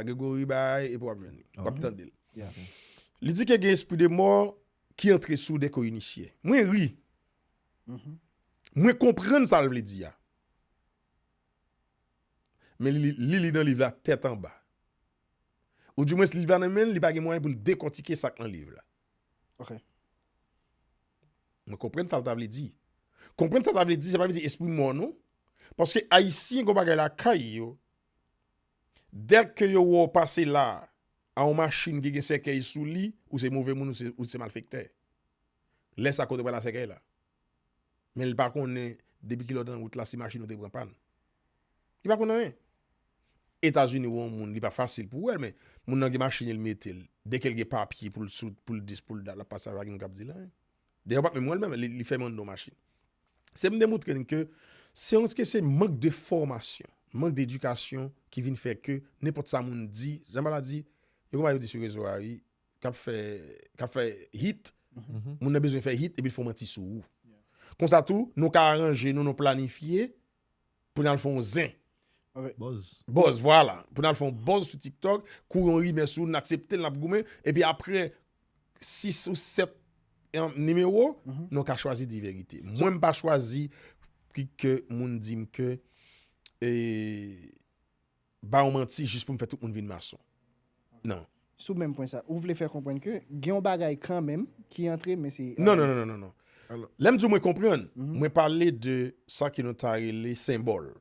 A Gregory bay epi wap jwenn li. Wap tande l. Li di ke gen espri de mò ki antre sou dèke w inisye. Mwen ri. Mwen konprann sa l vle di a. Men li li nan liv la tèt anba. Ou di mwens liv la nan men l, li pa gen mwayen pou l dekòtike sa k nan liv la. Ok. Mwen konprann sa l ta vle di. Konprann sa l ta vle di, sa pa vle di espri mò non. Paske Ayisyen gen yon bagay lakay yo, Dèk ke yo wè w pase la a yon machin ki gen sèkèy sou li, ou se move moun, ou se malfektè. Lè sa kote pral a sèkèy la? Men li pa konnen depi kilè w te nan wout la si machin ou te pran pàn. Li pa konn anyen. Etazini wè yon moun li pa fasil pou wè l men moun nan gen machin li l mete l. Dèke l gen papye pou l sou, pou l dis, pou l dat l ap pase avèk nou kap di l anyen. Dayè ou pat menm wèl menm li fèm andew machin. Se vin demoutre'n ke se yon ske se mank de fòmasyon, mank de edikasyon ki vin fè ke nenpòt sa moun di, jan Bala di, yon bagay yo di sou rezo a wi kap fè kap fè hit, moun nan bezwen fè hit epi l fon manti sou ou. Konsa tou nou ka aranje nou, nou planifye pou nan fon zen. Bòz. Bòz, vwala. Pou nan fon bòz sou TikTok, kou yon rimè sou, nan aksepte, nan ap goumen, epi apre 6 ou 7 nimewo, mhm. nou ka chwazi di verite. Mwen m pa chwazi ki ke moun di m ke e... ba yon manti jis pou m fè tout moun vin mason. Nan. Sou menm pwen sa, ou vle fè konprann ke gen yon bagay kanmenm ki antre men se. Non, non, non, non. Lè m di w mwen konprann, mwen pale de sa ke nou ta rele senbòl.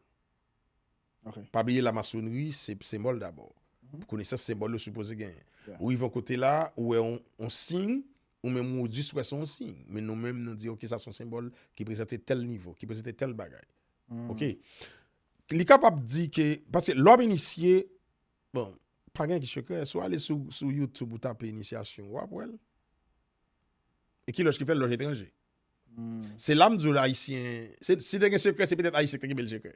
Pa bliye la masonri se senbòl dabò. Pou konesans senbòl yo sipoze genyen. Ou rive yon kote la, ou wè yon siy, ou menm ou jis wè se yon siy. Men nou menm nou di ok sa se yon senbòl ki prezante tèl nivo, ki prezante tèl bagay. Ok. Li kapab di ke, paske lè w ap inisye, bon, pa gen ki sekrè, si w ale sou YouTube ou tape inisyasyon, w ap wè l. E ki lòj ki fè l? Lòj etranje. Se la m di w Ayisyen, si te gen sekrè, se petèt Ayisyen ki te kenbe l sekrè.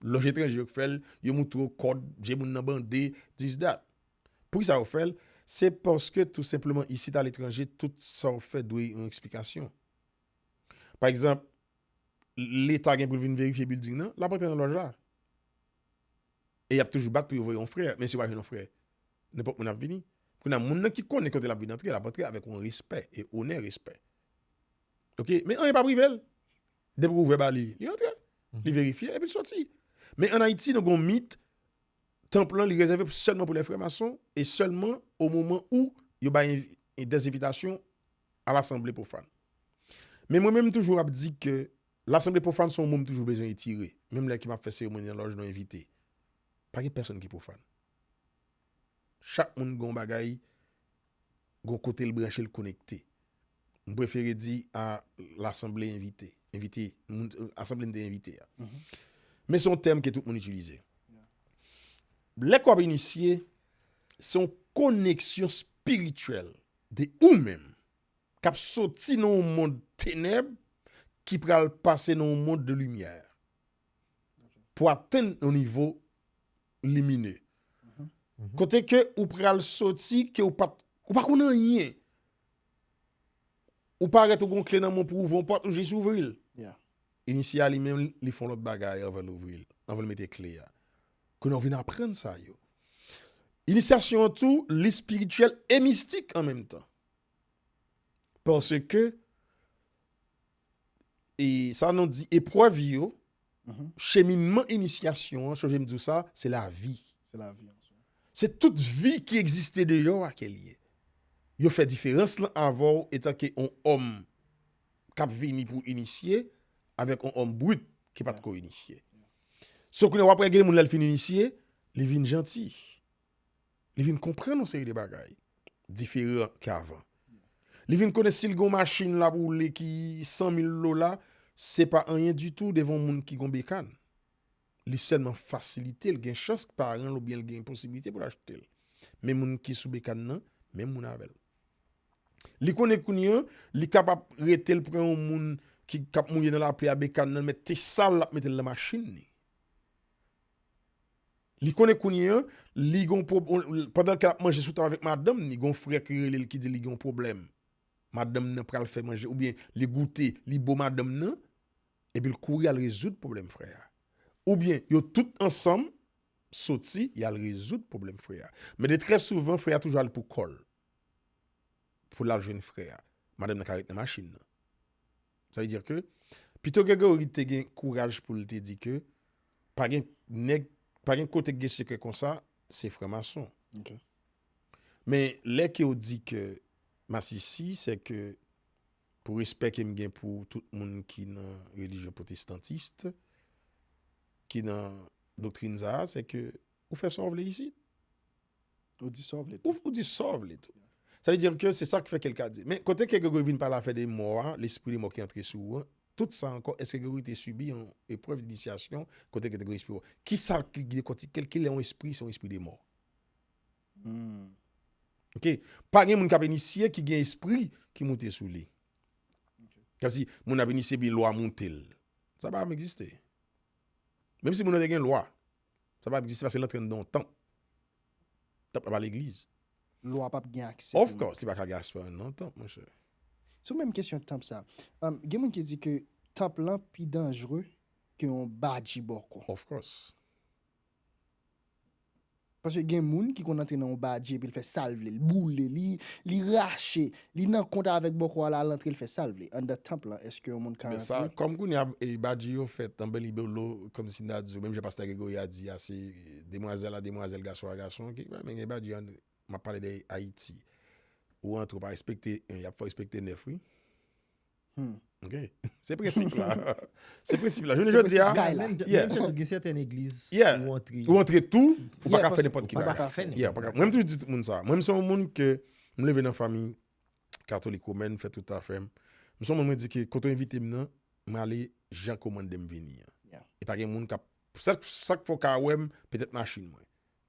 Lòj etranje yo ki fè l, yo montre w kòd, je moun nan bande, this, that. Poukisa yo fè l? Se paske tou senpleman isit aletranje, tout sa w fè dwe yon eksplikasyon. Pa egzanp, Leta gen pou l vin verifye bilding nan, l ap antre nan lòj la. E y ap toujou bat pou yo voye yon frè, men si yo pa jwenn yon frè, nenpòt moun ap vini. Kounye a, moun nan ki konnen kote l ap vin antre, l ap antre avèk yon respè e onè respè. Ok, men anyen pap rive l. Depi ou ouvè ba li, li antre, li verifye epi l soti. Men ann Ayiti, nou gen yon mit, tanp lan li rezève sèlman pou lè frè mason e sèlman o moman ou yo bay dèzenvitasyon. a lasanble pwofàn. Men mwen menm toujou ap di ke lasanble pwofàn se yon mo m toujou bezwen etire, menm lè ke m ap fè seremoni nan lòj nou envite. Pa gen pèsonn ki pwofàn. Chak moun gen yon bagay, gen yon kote l branche, l konekte. M prefere di a lasanble envite, envite, asanble m te envite a. Men se yon tèm ke tout moun itilize. Lè ke w ap inisye, se yon koneksyon espirityèl De ou menm, k ap soti nan yon mond tenèb ki pral pase nan yon mond de limyè, pou atenn yon nivo limine. Kote ke ou pral soti, ke ou pa konn anyen. Ou parèt ou gen yon kle nan men w pou ouvri yon pòt, ou jis ouvri l. Inisye a li menm, li fè yon lòt bagay anvan l ouvri l, anvan l mete kle a. Kounye a w vin aprann sa yo. Inisyasyon an tou li espirityèl e mistik an menm tan. Paske e sa nou di eprèv yo, mhm. cheminman inisyasyon an, chanje m di w sa, se la vi. Se la vi. Se tout vi ki egziste de yo a ke li ye. Yo fè diferans lan avè w etan ke on om kap vini pou inisye avèk on om brut ki pat ko inisye. So kounye a wap wè gen moun lè l fin inisye, li vin janti. Li vin konprann yon seri de bagay diferan ke avan. Li vin konnen si l gen yon machin l ap woule ki 100 mil dola, se pa anyen ditou devan yon moun ki gen yon bekann. Li sèlman fasilite l, gen chans paran l oubyen l gen posiblite pou l achte l. Men moun ki sou bekann nan, menm moun avè l. Li konnen kounye an, li ka pa rete l pran yon moun ki k ap mouye nan lapli a bekann nan mèt te sal l ap mete l nan machin li. Li konnen kounye an, li gen yon pwob, pandan ke l ap manje sou tab avèk madanm ni, gen yon frè ki rele l ki di li gen yon pwoblèm. Madanm nan pral fè manje oubyen li goute, li bo madanm nan, epi l kouri al rezoud pwoblèm frè a. Oubyen yo tout ansanm soti y al rezoud pwoblèm frè a. Men de trè souvan frè a toujou al pou kò l. pou lal jwenn frè a. Madanm nan ka ret nan machin nan. Sa vle dire ke, pito Gregory te gen kouraj pou l te di ke, pa gen nèg, pa gen kote ki gen sekrè konsa, se franmason. Men, lè ke ou di ke masisi, se ke pou respè ke m gen pou tout moun ki nan relijyon pwotestantist, ki nan doktrin sa a, se ke ou fè sa ou vle isit. Ou di sa w vle tou. Ou di sa w vle tou. Sa vle di ke se sa ki fè ke l ka di. Men, kote ke Gregory vin pale afè de mò a, lespri de mò ki antre sou ou an, tout sa ankò, èske Gregory te sibi yon eprèv dinisyasyon kote ke te gen yon espri mò? Ki sa l ki dekòtike l? Ki lè yon espri se yon espri de mò? Ok. Pa gen moun k ap inisye ki gen espri ki moute sou li. Kòm si moun ap inisye epi lwa moute l. Sa pa janm egziste. Menm si moun nan te gen lwa. Sa pa egziste paske l antre anndan yon tanp. Tanp la pa legliz. Lwa pap gen aksè pou li. Of course, li pa ka gen aspè anndan yon tanp monchè. Sou menm kesyon tanp sa, gen moun ki di ke tanp lan pi danjre ke yon badji bòkò. Of course. Paske gen moun ki konn antre nan yon badji epi l fè sa l vle, l boule li, li rache, Li nan kont avèk bòkò a la al antre l fè sal vle anndan tanp lan eske yon moun ka antre. Men sa kòm kounye a badji yo fèt an belibolo kòmsi n ta di yo menm jan pastè Gregory a di a se demwazèl a demwazèl gason a gason ki pral men gen badji an map pale de ayiti ou antre ou pa respekte 1 yap fè w respekte 9 wi. Hmm. Ok. Se prensip la. Se prensip la. Jounen jodi a. Menm jan gen sèten egliz ou antre. Ou antre tou, ou pa ka fè nenpòt ki bagay. Ou pa ka fè nenpòt bagay. Mwen toujou di tout moun sa. Mwen se yon moun ke m leve nan fanmi katolik womèn, m fè tout afè m. M se yon moun mwen di ke kote ou envite m nan, m ale jan ke w mande m vini an. E pa gen moun k ap, sèl sa k fè w ka wè m, petèt machin mwen,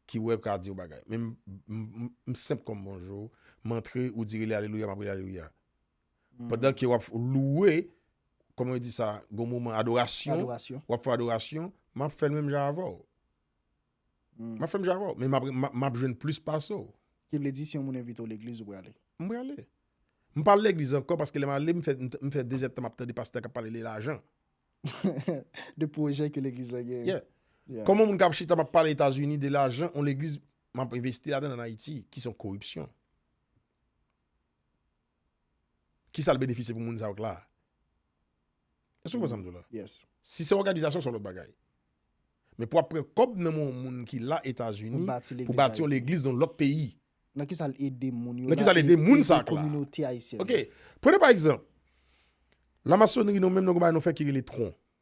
ki wè ka di yon bagay. Men m senp kòm bonjou, m antre, ou di rele alelouya, m ap rele alelouya. Pandan ke wap louwe, kòman yo di sa, gon moman adorasyon, wap fè adorasyon, map fèl menm jan avèw. Hmm. Map fèm jan avèw, men map jwenn plis pase w. Ki vle di si yon moun envite w legliz ou prale? M prale. M pa al legliz ankò paske lè m ale m fè 2 zèdtan map tande pastè kap pale de lajan. De pwojè ke legliz la gen. Yeah. Kòman moun kap chita map pale Etazini de lajan, yon legliz map envesti ladan an Ayiti ki son koripsyon. Kisa l benefisye pou moun sa yo k la a? Èske ou konprann sa m di w la? Yes. Si se òganizasyon, se yon lòt bagay. Men pou w ap pran kòb nan men yon moun ki la Etazini Pou bati pou legliz bati yon Ayiti. legliz nan yon lòt peyi. Nan kisa l ede moun yo Nan la kisa l e ede moun sa yo k la a? kominote ayisyèn Ok. nan? Prenn pa egzanp, lamasonri nou menm nou gen yon bagay nou fè ki rele tron.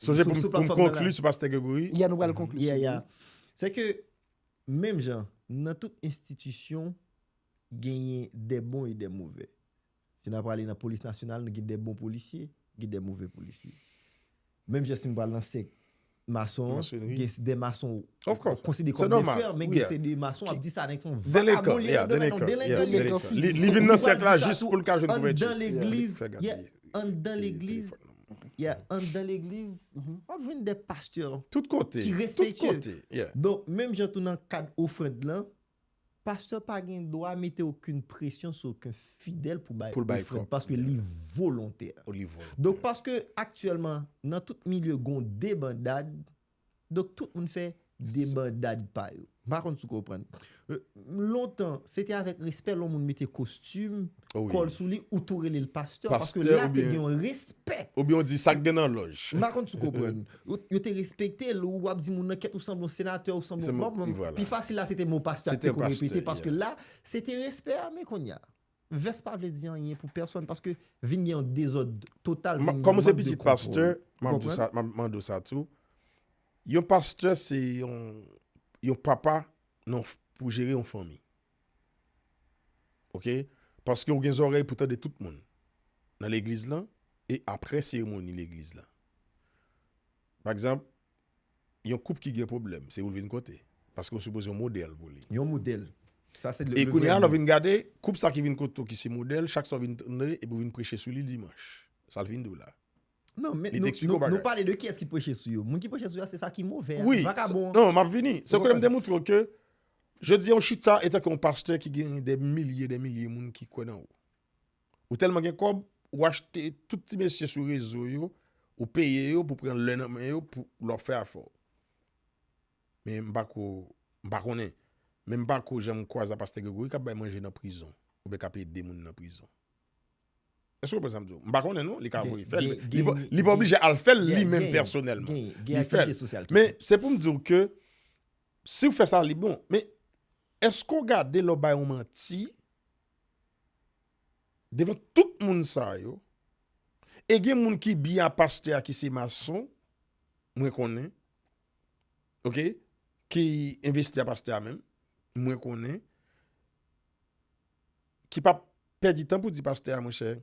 Sonje pou m konkli sou Pastè Gregory. Ya nou pral konkli. Ya ya. Se ke menm jan nan tout enstitisyon genyen de bon e de move. Si nan prale nan polis nasyonal nou gen de bon polisye, gen de move polisye. Menm jan si m pral nan sek mason, gen de mason konside kon de frè, men gen se de mason ap di sa nèk son vakabon li nan demen nan delenkan. Delenkan. Li vin nan sek la jis pou l ka jwenn kouvèti. An dan legliz, an dan legliz. Ya anndan legliz, w ap jwenn de pastè ki respektye. Donk, menm jan tou nan kad ofrand lan, pastè pa gen dwa mete okin presyon sou okin fidèl pou bay ofrand, paske li volontè. Donk, paske aktyèlman, nan tout milye gon debandad, Donk tout moun fè debandad pa yo. M pa konn si w konprann. Lontan, se te avèk respè lè yon moun mete kostim, kòl sou li, ou tou rele l pastè paske la te gen yon respè. Oubyen ou di sa k gen nan lòj. M pa konn si w konprann. Yo te respekte l, ou ap di moun nan kèt ou sanble yon senatè, ou sanble yon. Pi fasil la se te mo pastè a ki te konn repete paske la se te respè a men kounye a. Vès pa vle di anyen pou pèsòn paske vin gen yon dezòd total, vin gen mank de kontwòl. Kòm ou se pitit pastè, m ap di sa, m ap mande w sa tou. Yon pastè se yon papa pou jere yon fanmi. Ok? Paske ou gen zòrèy pou tande tout moun nan legliz lan e apre seremoni legliz lan. Pa egzanp, Yon koup ki gen pwoblèm, se ou l vin kote. Paske ou sipoze yon modèl pou li. Yon modèl. Sa se le vrè moun. E kounye a lè w vin gade, koup sa ki vin kote w ki se modèl, chak sa w vin tande epi w vin preche sou li dimanch. Sa l fin di w la. Non, men nou pale de kiyès ki preche sou yo. Moun ki preche sou yo a se sa ki move a. Wi, non, m ap vini. Se koulè m te moutre w ke jodi a ou chita etanke yon pastè ki gen de milye de milye moun ki kwè nan ou. Ou tèlman gen kòb, ou achte tout ti mesye sou rezo yo, ou peye yo pou pran lè nan men yo pou lè w ap fè afè w. Men m pa ko, m pa konnen. Men m pa ko janm kwaze a pastè Gregory k ap bay manje nan prizon oubyen k ap ede moun nan prizon. Èske w konprann sa m di w? M pa konnen non, li ka voye fè l. Li pa oblije al fè l li menm pèsonèlman. Li fè l. Men se pou m di w ke si w fè sa li bon. Men èske w gade lè w bay yon manti Devan tout moun sa yo, e gen moun ki bi a pastè a ki se mason, mwen konnen, ok, ki envesti a pastè a menm, mwen konnen, ki pa pèdi tan pou di pastè a, monchè,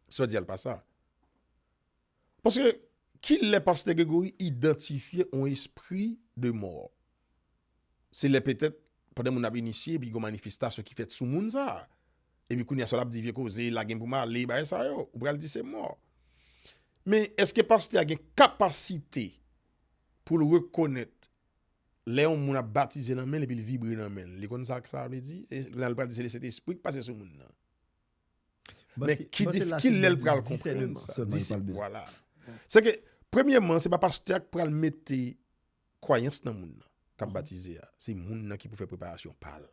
sa w di a l pa sa. Paske ki lè pastè Gregory idantifye yon espri de mò? Se lè petèt pandan moun ap inisye epi gen yon manifestasyon ki fèt sou moun sa a. Epi kounye a sa l ap di vye koze, lage m pou m ale, bagay sa yo. Ou pral di se mò. Men èske pastè a gen kapasite pou l rekonèt lè yon moun ap batize nan men l epi l vibre nan men l? Li konn sa sa vle di? Lè l pral di se lè Sentespri ki pase sou moun nan. Men ki lè l pral konprann sa? Disip, wala. Se ke, premyèman, se pa pastè a ki pral mete kwayans nan moun nan, k ap batize a. Se moun nan ki pou fè preparasyon pa l.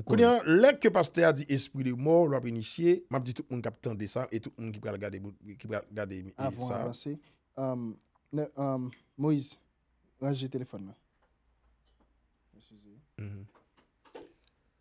Kounye a, lè ke pastè a di espri de mò, l ap inisye, m ap di tout moun k ap tande sa, e tout moun ki pral gade sa. Avan w avanse, Moïse, ranje telefòn nan.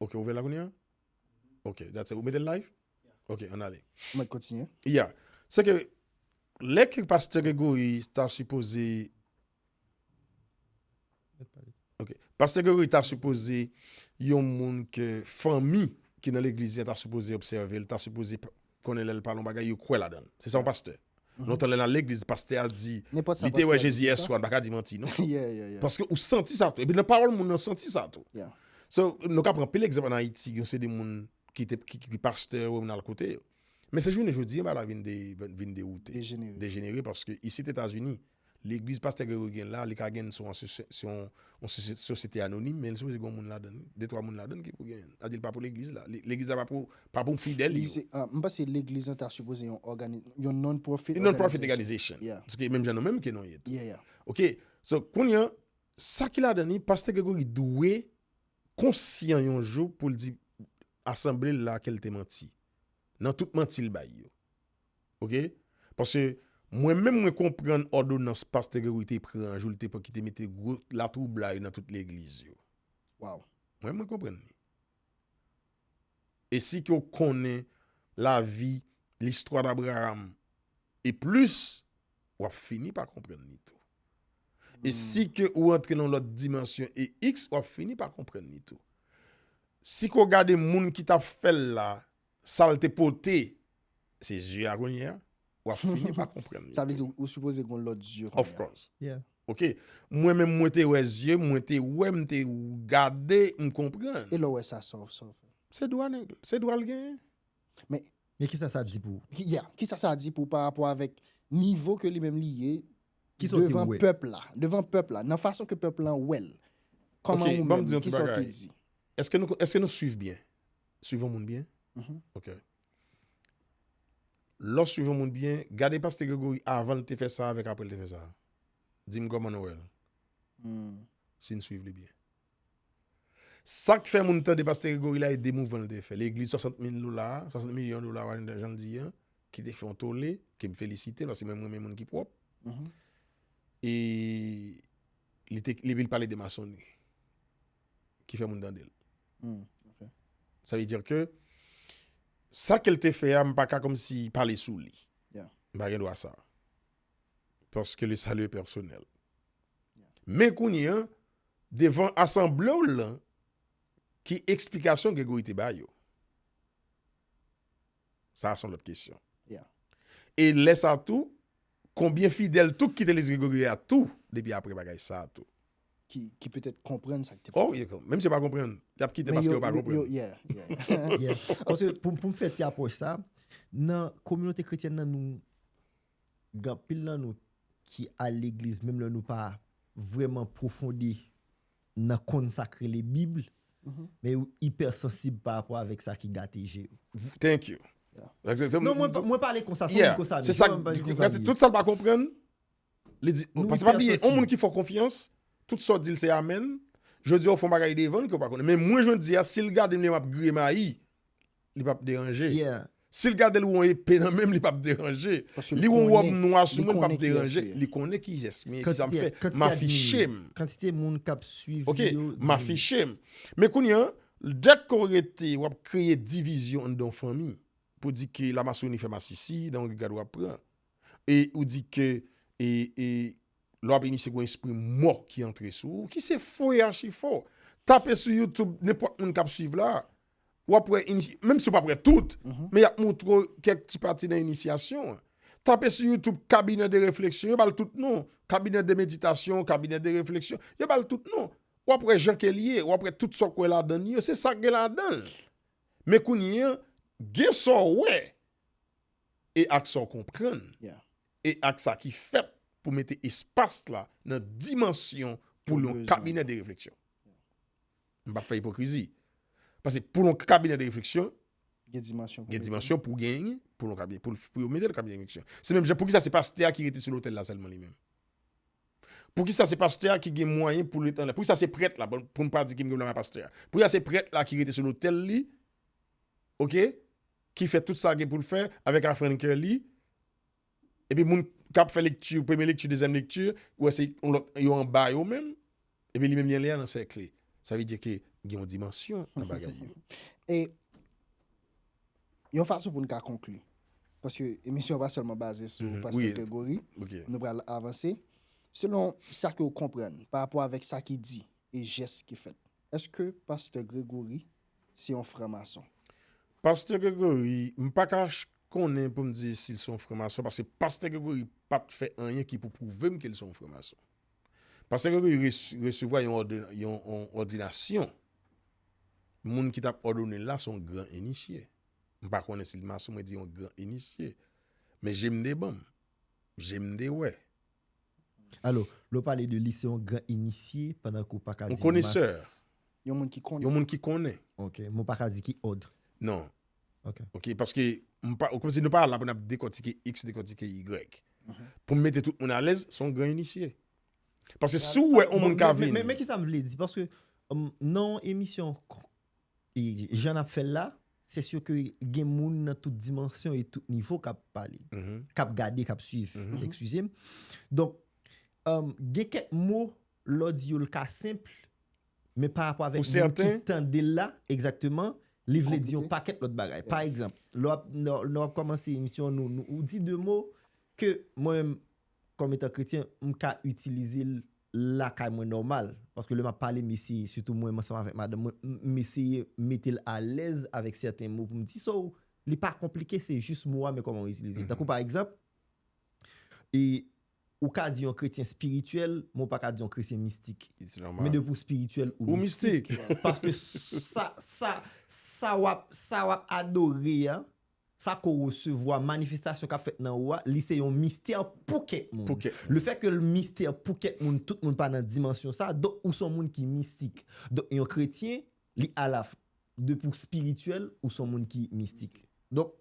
Ok ou ouve la kounya ok that's it ou metel live ok an ale Mwen mèt kontinye. yeah se ke lè ke pastè Gregory ta sipoze ok pastè Gregory ta sipoze yon moun ke fanmi ki nan legliz li an ta sipoze obsève l ta sipoze konnen lèl pale yon bagay yo kwè ladann se sa yon pastè lontan lè nal legliz pastè a di li te wè jezi yèswa li paka di manti non paske ou santi sa tou epi nan pawòl moun nan ou santi sa tou so nou ka pran anpil egzanp an ayiti yon seri de moun ki te ki pastè ou nan kote yo men se jounen jodi bagay la vin dejenerer paske isit etazini Legliz Pastè Gregory gen la, li ka gen se yon sosyete anonim, men li sipoze gen yon moun ladan li, de twa moun ladan ki pou gen, sa vle di li pa pou legliz la, legliz la pa pou fidèl yo. M panse legliz lan ta sipoze yon òganis, yon non-profit òganizasyon. Yon non-profit òganizasyon, paske menm jan nou menm ke nou ye tou. Ok, so kounye an, sa ki ladan li, Pastè Gregory dwe konsyan yon jou pou l di asanble l la ke l te manti, nan tout manti l bay yo. Ok paske mwen menm mwen konprann òdonans pastè Gregory te pran jou li te pran ki te mete gwo latwoublay nan tout legliz yo waw mwen menm mwen konprann li e si ke w konnen lavi listwa d'Abraham e plis wap fini pa konprann li tou e si ke ou antre nan yon lòt dimansyon e iks wap fini pa konprann li tou si ke w gade moun ki tap fèl la Sal te pote se zye a kounyea wap fini pa konprann li. Sa vle di ou sipoze gon lòt zye kounyea. Of course. Yeah. Ok mwen menm mwen te wè zye mwen te wè m te gade m konprann. E lè w wè sa sa w fè? Se dwa nèg se dwa l genyen. Men. Men kisa sa di pou ou? Yeah kisa sa di pou ou pa rapò avèk nivo ke li menm li ye devan pèp la devan pèp la nan fason ke pèp lan wè l kòman ou menm kisa w te di? Ok banm di yon ti bagay èske nou èske nou swiv byen Swiv yon moun byen. Ok. Lè w swiv yon moun byen, gade Paste Gregory avan l te fè sa avèk apre l te fè sa. Di m kòman nou wè l. Si n swiv li byen. Sa k fè moun tande Paste Gregory la e de mouvman l te fè. Legliz 60 mil dola a, 60 milyon dola a, jan l di an, ki te fè yon tole, ke m felisite l, paske mwen m renmen moun ki pwòp. E li te, li vin pale de masonri. Ki fè moun tande l. Sa vle dire ke sa ke l te fè a m pa ka komsi pale sou li. M pa gen dwa sa. Paske le salu e pèsonèl. Men kounye an, devan asanble w lan, ki eksplikasyon Gregory te bay yo? Sa a son lòt kesyon. E lè sa a tou, konbyen fidèl tou k kite Legliz Gregoryen a tou depi apre bagay sa a tou? Ki petèt konprann sa k te pase. O, menm si yo pa konprann, y ap kite paske yo pa konprann. Paske pou m fè ti apwòch sa a, nan kominote kretyèn nan nou, gen anpil nan nou ki al legliz menm lè nou pa vrèman pwofonde. nan konn sak rele bible men yo hyper sansib pa rapò avèk sa ki gate je yo. Thank you. Non mwen pale konsa son moun konsa men. Mwen tout sa pa konprann li di paske pa bliye on moun ki fè konfyans tout sa ou dil se amen jodi a ou fon bagay devann ke ou pa konnen men mwen jodi a sil gadem li wè map griye mayi. li pap deranje. Sil gadel ou on epe nan menm li pap deranje. Li on rob nwa sou menl pap deranje. Li konnen kiyes mye kisa m fe m afiche m. Kantite moun kap swiv li yo diminye. Ok m afiche m. Men kounya dek ke w rete wap kreye divizyon anndan yon fanmi. Pou di ke la masoni fe masisi nan yon regad wap pran. E ou di ke e e le wap inisye gon espri mò ki antre sou ou. Ki se fo e achi fo. Tape sou youtube nenpot moun kap swiv la. w ap wè inis, menm si w pa ap wè tout, men y ap montre w kèk ti pati nan inisyasyon an. Tape sou YouTube cabinet de réflexion, yo ba l tout non, cabinet de méditation, cabinet de réflexion, yo ba l tout non. W ap wè jan ke l ye, w ap wè tout sa w kwè ladan li yo, se sa k gen ladan l. Men kounye an, gen sa w wè e ak sa w konprann e ak sa ki fèt pou mete espas la nan dimansyon pou l yon cabinet de réflexion. M pap fè ipokrizi. Pase pou yon kabinè de refleksyon, gen dimansyon pou gen, pou yon kabinè, pou yon mete yon kabinè de refleksyon. Se menm jan, pou ki sa se pastè a ki rete sou lotèl la sèlman li menm? Pou ki sa se pastè a ki gen mwayen pou rete anlè? Pou ki sa se prèt la, pou m pa di ki m gen mwayen pastè a? Pou ki sa se prèt la ki rete sou lotèl li, ok, ki fè tout sa gen pou l fè avèk afrann kè li, Epi moun kap fè lekti, premye lekti, dezyèm lekti, ou wè se yon lòt, yo anba yo menm, epi li menm li anlè an nan sèk li. Sa vle di ke gen yon dimansyon nan bagay yo. E, yon fason pou nou ka konkli, paske emisyon an pa sèlman baze sou Pastè Gregory, nou pral avanse, selon sa ke ou konprann, pa rapò avèk sa ki di, e jès ki fèt, èske Pastè Gregory se yon franmason? Pastè Gregory, m pa ka konnen pou m di si l se yon franmason paske pastè Gregory pa t fè anyen ki pou pwouve m ke l se yon franmason. Pastè Gregory resevwa yon òdinasyon, moun ki t ap òdone l la se yon gran inisye. M pa konnen si l mason, mwen di yon gran inisye. Men je m te ban m, je m te wè. Alo, lè w pale de li, se yon gran inisye pandan ke w pa ka di yon mas. Yon moun ki konnen. Yon moun ki konnen. Ok, men w pa ka di ki òd. Non. Ok. Ok, paske m pa, kòm si nou pa la pou n ap dekòtike X, dekòtike Y. Pou m mete tout moun alèz, se yon gran inisye. Paske si w wè yon moun ka vini. Men kisa m vle di, paske nan yon emisyon Jan nap fèl la, se sur ke gen moun nan tout dimansyon e tout nivo kap pale, kap gade, kap swiv, eksizem. Donk, gen kèk mo lè w di yo l ka senpl, men pa rapò avèk moun ki tande l la, egzakteman, li vle di yon pakèt lòt bagay. Pa egzanp, lè w ap kòmanse emisyon, ou di de mo ke mwen menm kòm etan kretyen, m ka itilize l lakay mwen nòmal. Paske lè m ap pale, m eseye, sitou mwen ansanm avèk madanm mwen, m eseye mete l alèz avèk sèten mo pou m di. So, li pa konplike, se jis mo a men kòman ou itilize l. Tankou pa egzanp, e ou ka di yon kretyen espirityèl, men ou pa ka di yon kretyen mistik. Men depi ou espirityèl, ou mistik. Paske sa w ap adore a, sa ke w resevwa, manifestasyon k ap fèt nan ou a, li se yon mistè pou kèk moun. Le fè ke l mistè pou kèk moun, tout moun pa nan dimansyon sa, donk ou se yon moun ki mistik. Donk yon kretyen, li ala fw, depi w spirityèl, ou se yon moun ki mistik. Donk,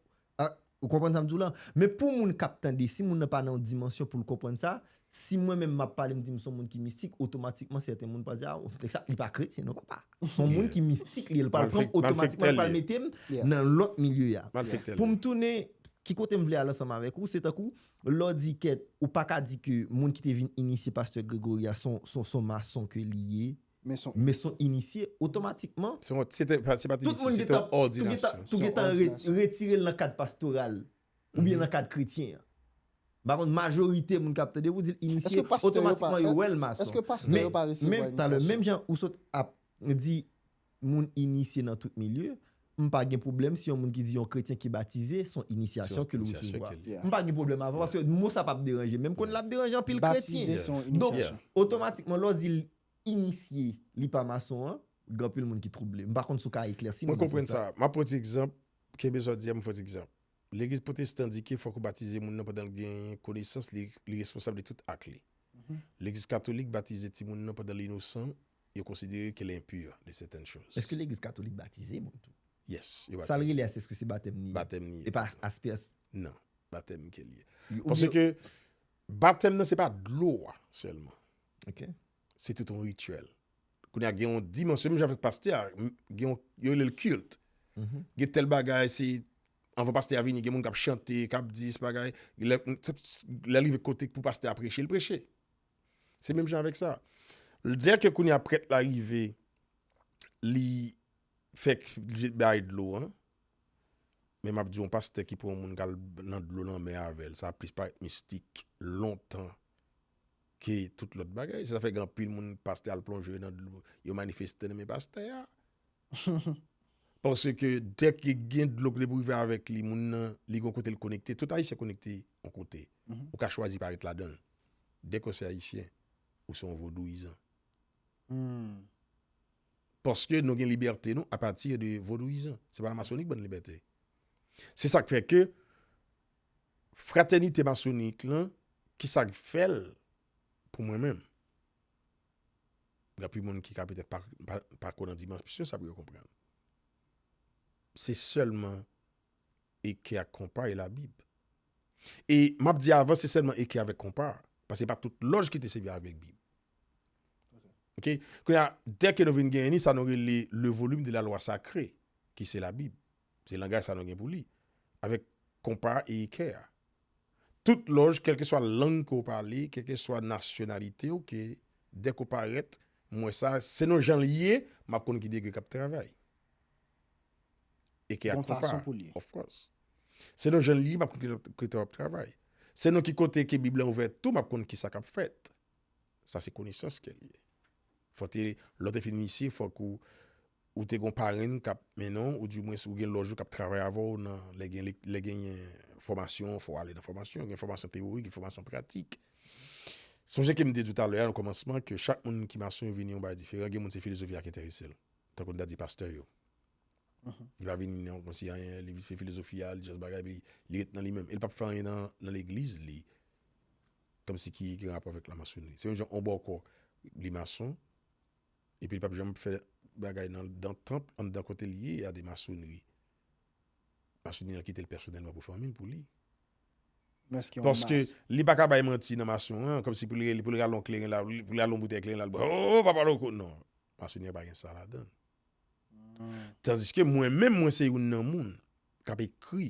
ou konprann sa m di w la? Men pou moun k ap tande, si moun nan pa nan yon dimansyon pou l konprann sa, Si mwen menm map pale m di m son moun ki mistik otomatikman sèten moun pral di a nèg sa li pa kretyen non papa son moun ki mistik li ye l pral pran m otomatikman l pral mete m nan lòt milye a pou m tounen ki kote m vle al ansanm avèk ou se tankou lè w di kèt ou pa ka di ke moun ki te vin inisye pastè Gregory a son mason ke li ye men son inisye otomatikman se te pa inisye se te òdinasyon tou gen tan retire l nan kad pastoral. oubyen nan kad kretyen an. M pa konn majorite moun k ap tande pou di l inisye, otomatikman yo wè l mason. Men, talè menm jan ou sot ap di moun inisye nan tout milye, m pa gen pwoblèm si yon moun ki di yon kretyen ki batize son inisyasyon ke l resevwa. M pa gen pwoblèm avè w paske mo sa p ap deranje men m konnen l ap deranje anpil kretyen. Donk, otomatikman lè w di l inisye li pa mason an, gen anpil moun ki twouble. M pa konn si w ka eklèsi m, men se sa. Mwen konprann sa. M ap pran ti egzanp, kenbe sa w di a m fè w ti egzanp. Legliz pwotestan di ke fòk ou batize moun nan pandan l gen konesans, li responsab de tout ak li. Legliz katolik batize timoun nan pandan l inosan, yo konsidere ke l enpur de sètèn choz. Eske legliz katolik batize moun tou? Yes, yo batize. Sa l rele a se eske se batèm li ye? Batèm li ye. E pa aspeas? Non, batèm ke l ye. Paske batèm nan se pa dlo a sèlman. Ok Se tout yon rituel Kounye a gen yon dimansyon Menm jan avèk pastè a Yo rele l kilt mm-hmm. Gen tèl bagay se Anvan pastè a vini gen moun k ap chante K ap di se bagay Lè l rive kote pou pastè a preche l preche Se menm jan avèk sa Lè ke kounye a prèt la rive Li Fèk li bay dlo an Men m ap di yon pastè ki pran yon moun k al nan dlo lanmè avè l sa plis parèt mistik Lontan Ke tout lòt bagay. Se sa fè gen anpil moun pastè al plonje yo nan dlo, yo manifeste nan men pastè a. Paske dèk ke gen dlo ki depo rive avèk li, moun nan li gen yon kote li konekte. Tout Ayisyen konekte yon kote. Ou ka chwazi pa ret ladan l. Dèk ou se Ayisyen, ou se yon vodouyizan. Paske nou gen libète nou apati de vodouyizan. Se pa la masoni ki ban nou libète. Se sa k fè ke Fratènite masonik lan ki sa k fè l pou mwen menm? Anpil moun ki ka petèt pa kwè nan dimansyon sa pou yo konprann. Se sèlman eke ak konpa e labib. E m ap di avan se sèlman eke avèk konpa paske se pa tout lòj ki te sèvi avèk bib. Ok, kounye a dèke nou vin genyen li sa nou rele le volume de la loi sacrée ki se labib. Se langaj sa nou gen pou li. Avèk konpa e ekè a. Tout lòj, kèlkeswa lang ke w pale, kèlkeswa nasyonalite w, ke dèk ou parèt, m wè sa, selon jan l ye, m ap konn ki degre k ap travay. Ekè ak konpa. Bon fason pou l ye. Of course. Selon jan l ye, m ap konn ki kote w ap travay. Selon ki kote ke bib lan ouvè tou, m ap konn kisa k ap fèt. Sa se konesans kè li ye. Fò te, lè w te fin inisye, fòk ou ou te gon parenn k ap mennen w, ou di mwens ou gen lòj ou k ap travay avè w nan lè gen lèk lè genyen fòmasyon, fò w ale nan fòmasyon, gen fòmasyon teyorik, gen fòmasyon pratik. Sonje ke m te di w talè a nan kòmansman ke chak moun ki mason yo vini yon bagay diferan, gen moun se filozofi a ki enterese l. Tankou n ta di pastè yo. Li pa vini nan kòmanse anyen, li vin fè filozofi a, li jès bagay epi li ret nan li menm. E l p ap fè anyen nan nan legliz li. Kòmsi ki gen rapò avèk la masonri? Se menm jan yon bòkò li mason epi li pap janm fè bagay nan dan tanp anndan kote li ye a de masonri. Masonri nan kite l pèsonèlman pou fanmi l pou li. Paske li pa ka bay manti nan mason an kòmsi pou li pou li rale yon kleren la pou li rale yon boutèy kleren la bwè oo papa loko non. Masonri an pa gen sa ladan l. Tandiske mwen menm mwen se youn nan moun kap ekri.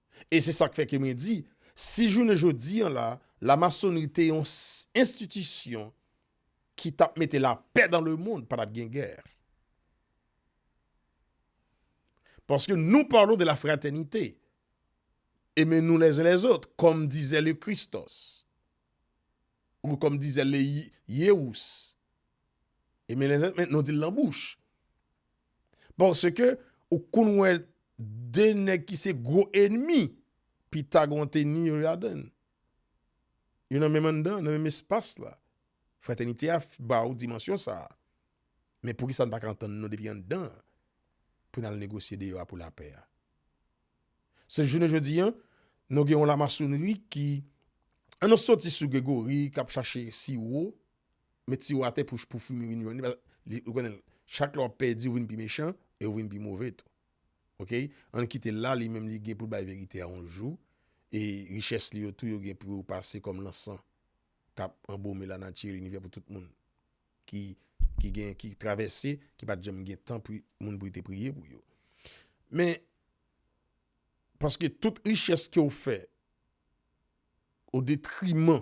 E se sak fè ke mwen di, si jounen jodi an la, la masonri te yon enstitisyon ki tap mete la pè dan le mond, pa tap gen gè. Paske nou parlons de la fratènite, eme nou lè zen lè zot, kòm dizè le Christos, ou kòm dizè le Yewous, eme lè zen lè zot, men nou di l lan bouch. Paske ou konn wè 2 nèg ki se gwo enmi, pita gen yon teni yo ladan l. Yo nan menm anndan, nan menm espas la. Fratènite a ba ou dimansyon sa a. Men pou ki sa n pa ka antann nou depi anndan an pou n al negosye deyò a pou lapè a? Se jounen jodi an, nou gen yon lamasonri ki, an nou soti sou Gregori k ap chache siwo met siwo atè pou pou fwi mi vin jwenn li paske li ou konnen chak lè wap pèdi ou vin pi mechan e ou vin pi move tou ok ann kitel la li menm li gen poul bay verite a on jou e richès li yo tou yo gen pou yo pase kòm lansan kap anbome lanati linivè pou tout moun ki ki gen ki travèse ki pat janm gen tan pou moun pou yo te priye pou yo men paske tout richès kew fè o detriman.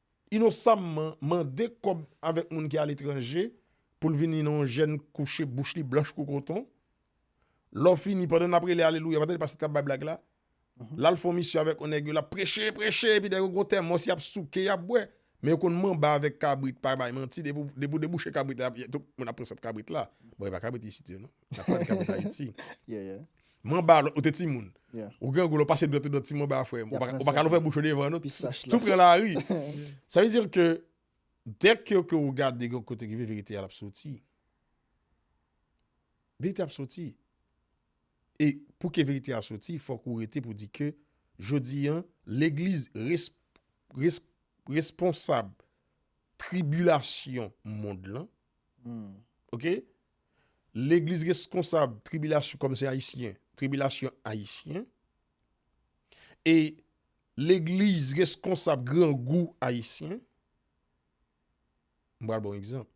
Inosamman mande kòb avèk moun ki aletranje pou l vini nan yon jèn kouche bouch li blanch kou koton. Lò fini, pandan n ap rele alelouya, pandan li pa sot k ap bay blag la, l al fè yon misyon avèk yon nèg yo, l ap preche, preche, epi dèyè yo gen yon tèmòs y ap souke, y ap bwè. Men yo konn manba avèk kabrit, pa bay manti, depi w depi w debouche kabrit la, y ap tout moun ap pran sèt kabrit la. Bon, e pa kabrit isit yo non. N ap pale kabrit Ayiti. Manba ou te timoun. Ou grangou lò pase dwèt ou dwèt ti manba a frèm. Ou pa kalon fè bouch ou devan nou. Tou pran la ri. Sa vè dir ke dèk ke ou ke ou gade gò kote ki vè verite a lap soti. Verite ap soti. E pou ke verite a soti fò kou rete pou di ke jodi an legliz responsab tribilasyon mond lan. Ok. Legliz reskonsab tribilasyon kòm se ayisyen, tribilasyon ayisyen e legliz reskonsab grangou ayisyen. M pral ba w egzanp.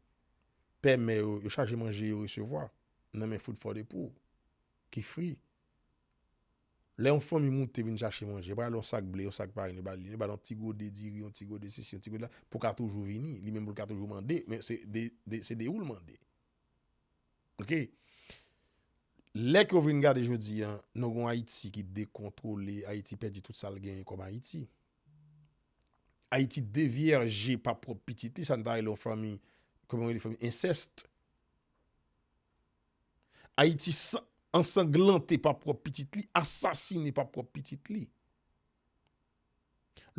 Pè mè yo, yo chaje manje yo resevwa nan men food for the poor ki fri. Lè yon fanmi moute vin chache manje, yo pa ale yon sak ble, yon sak farin yo ba li. Yo ba l yon ti gode diri, yon ti gode sesi, yon ti gode la, pou ka toujou vini. Li menm pou l ka toujou mande, men se de se de ou l mande. Ok. Lè ke w vin gade jodi an, nou gen yon Ayiti ki dekontwole, Ayiti pèdi tout sa l genyen kòm Ayiti. Ayiti devyèje pa pwòp pitit li, sa n ta rele yon fanmi, kòman yo rele fanmi, ensèst. Ayiti ansanglante pa pwòp pitit li, asasine pa pwòp pitit li.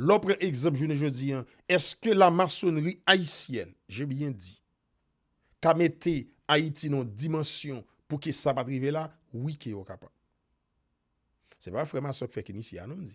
Lè w pran egzanp jounen jodi an, èske lamasonnri ayisyèn, je byen di, ka mete Ayiti nan yon dimansyon pou ke sa pa t rive la? Wi ke yo kapab. Se pa frè m a sa w k fèk inisye a non m di.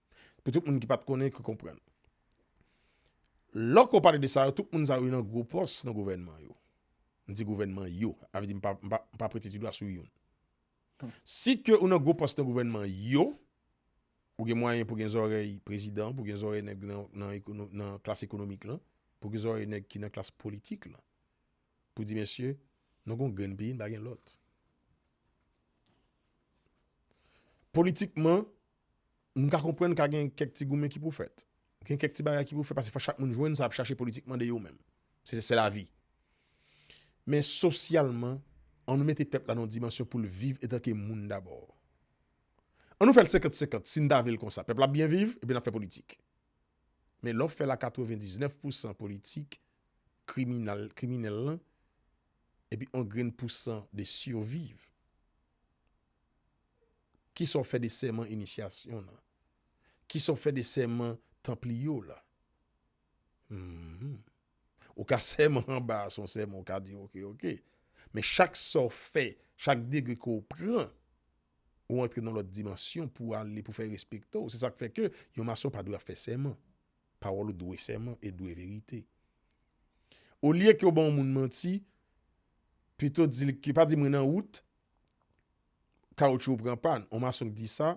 Pou tout moun ki pat konnen ki konprann. Lòk ou pale de sa yo, tout moun sa yo nan gwo pòs nan gouvènman yo. M di gouvènman yo, avè di m pa prete ti dwa sou youn. Si ke ou nan gwo pòs nan gouvènman yo, ou gen mwayen pou gen zòrèy prezidan, pou gen zòrèy nèg nan klas ekonomik lan, pou gen zòrèy nèg ki nan klas politik lan. Pou di mesye, nou gon grenn peyi, n pa gen lòt. Politikman, M ka konprann ka gen kèk ti goumen ki pou fèt. Gen kèk ti bagay ki pou fèt paske fòk chak moun jwenn sa yap chache politikman de yo menm. Se se lavi. Men sosyalman, an nou mete pèp la nan yon dimansyon pou l viv etanke moun dabò. An nou fè l senkant senkant si n ta vle l konsa. Pèp la ap byen viv epi n ap fè politik. Men lè w fè l a katrevendiznèf pousan politik, kriminal, kriminèl lan epi yon grenn pousan de siviv. Kisa w fè de sèman inisyasyon nan? Kisa w fè de sèman tanpliye w la? Hum. Ou ka sèman anba a se yon sèman ou ka di ok ok. Men chak sa w fè, chak degre ke w pran, ou antre nan lòt dimansyon pou ale pou fè respekte w. Se sak fè ke yon mason pa dwe ap fè sèman. Pawòl ou dwe sèman e dwe verite. Olye ke w ban yon moun manti, pito di l ke pa di mwen nan wout, kawoutchou ou pran pàn, yon mason k di sa,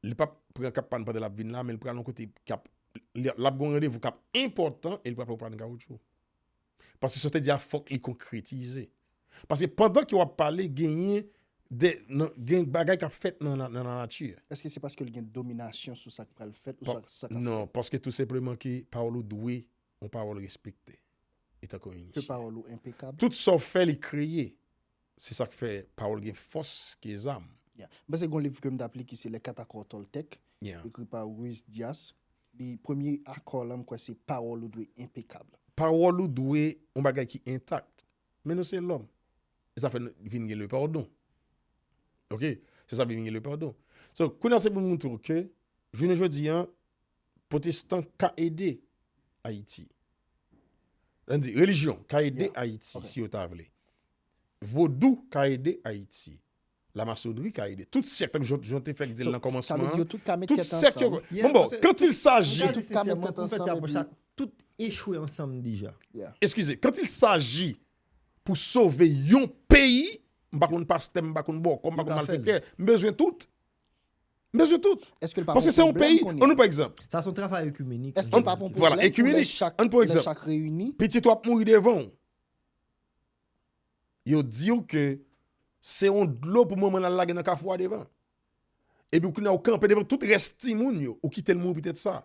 li pap pran kap pàn pandan lap vin la, men l pral yon kote kap, lap gen yon randevou kap enpòtan e li pral pran yon pàn kawoutchou. Paske sa w te di a fòk li konkretize. Paske pandan ke wap pale genyen de, gen bagay kap fèt nan lanati. Eske se paske l gen dominasyon sou sa k pral fèt ou sa k ap fèt? Non, paske tou senpleman ke pawòl ou dwe yon pawòl respekte. Ke pawòl ou enpekab. Tout sa w fè li kreye. Se sak fè pawòl gen fòs ke zam. Yeah. M panse gon liv ke m tap li ki se Les Quatre Accords Toltec, Yeah. ekri pa Ruiz Dias. Li premye akò lan m kwè se pawòl ou dwe enpekab. Pawòl ou dwe yon bagay ki intact. Men nou se lòm. E sa fè nou vin gen le pardon. Ok. Se sa vin gen le pardon. So, kounye a se pou m montre w ke jounen jodi an potestan ka ede Ayiti. An di relijyon ka ede Yeah. Ayiti Ok. si yo ta vle. Vodou ka ede Ayiti. Lamasonri ka ede. Tout sèk, tankou Jan w te fèk di l nan kòmansman an, tout sèk yo, bon bon, quand il s'agit, tout echwe ansanm deja. Eskize, quand il s'agit pou sove yon peyi, m pa konn pastè, m pa konn bòkò, m pa konn malfektè, m bezwen tout. M bezwen tout. Paske se yon peyi, an nou pran egzanp. Sa son travay ekimenik. Eske l pa pran pwoblèm pou lè chak reyini? Pitit ou ap mouri devan w. Yo di w ke se yon dlo pou manman l al lage nan kafou a devan. Epi kounye a ou kanpe devan tout rès timoun yo, ou kite l mouri poutèt sa.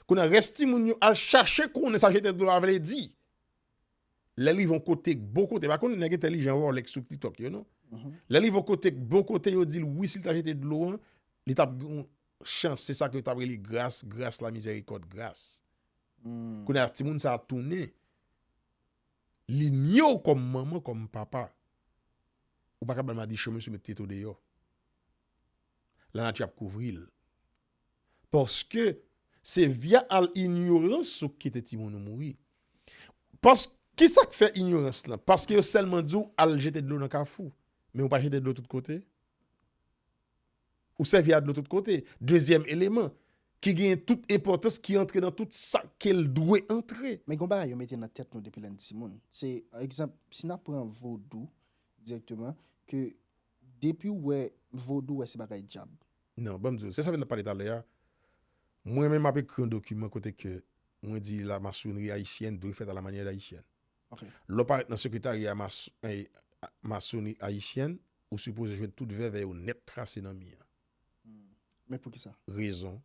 Kounye a rès timoun yo al chache konnen sa jete dlo a vle di. Lè l rive yon kote, bon kote, pa konn nèg entèlijan Rolex sou TikTok yo non. Lè l rive yon kote, bon kote yo di l wi si l ta jete dlo an, li t ap gen yon chans, se sa ke yo t ap rele gras, gras lamizèrikòd, gras. Kounye a timoun sa a tounen. Li nye w kòm manman, kòm papa. Ou pa kapab al madichon mesye met tete w deyò. Lanati ap kouvri l. Paske se via al inyorans ou kite timoun ou mouri. Pas, ki sa k fè inyorans lan? Paske yo sèlman di w al jete dlo nan kafou. Men ou pa jete dlo tout kote. Ou sèvi a dlo tout kote. Dezyèm eleman, ki genyen tout enpòtans, ki antre nan tout sa ke l dwe antre. Men gen yon bagay yo mete nan tèt nou depi lè n timoun. Se, egzanp, si n ap pran vodou dirèkteman, ke depi w wè vodou, w wè se bagay dyab. Non, ban m di w, se sa m fin ap pale talè a. Mwen menm m ap ekri yon dokiman kote ke mwen di la masonri ayisyèn dwe fèt a la manyè dayisyen. Lè w parèt nan Sekretarya Masoni Ayisyèn, ou sipoze jwenn tout vèvè yo nèt trase nan mi an. Men pou ki sa? Rezon,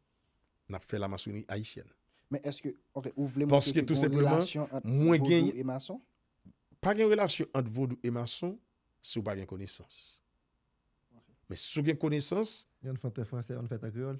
n ap fè Lamasoni Ayisyèn. Men èske, ok, ou vle montre ke gen relasyon ant Vodou e Mason? Pa gen relasyon ant Vodou e Mason si w pa gen konesans. Men si w gen konesans. Yon fè an kreyòl.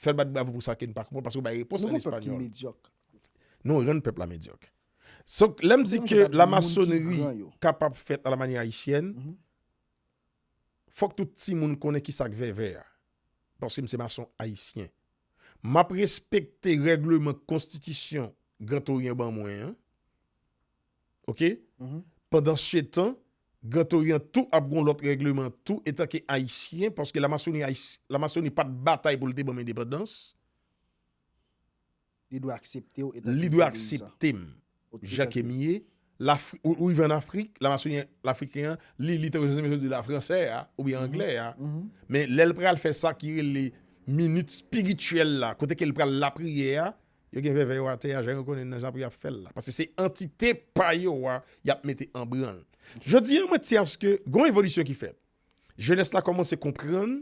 Fè l bat bravo pou sa ke n pa konprann paske w bay repons an espanyòl. Nou rann pèp la medyòk. Lè m di ke lamasonri kapab fèt a la manyè ayisyèn, fòk tout timoun konnen ki sa k vèvè a. Paske m se mason ayisyen. M ap respekte règleman konstitisyon Gran Toryan ban mwen an. ok pandan se tan grand orient tou ap gon lot regleman tou etan ke ayisyen paske la masoni la masoni pat batay poul te banm endepandans li dwe akseptew etan ke li dwe akseptem jan kem ye la ou rive an afrik la masoni la afriken an li li tankou jan zèmè di la fransè a ou byen anglè a men lèl pral fè sa ki rele minit spirityèl la kote kel pral la priyè a Yo gen vèvè yo atè a jan yo konnen nan jan pou yap fèl la paske se antite pa yo a yap mete an branl jodi an mwen ti aske gon evolisyon ki fèt jenès la kòmanse konprann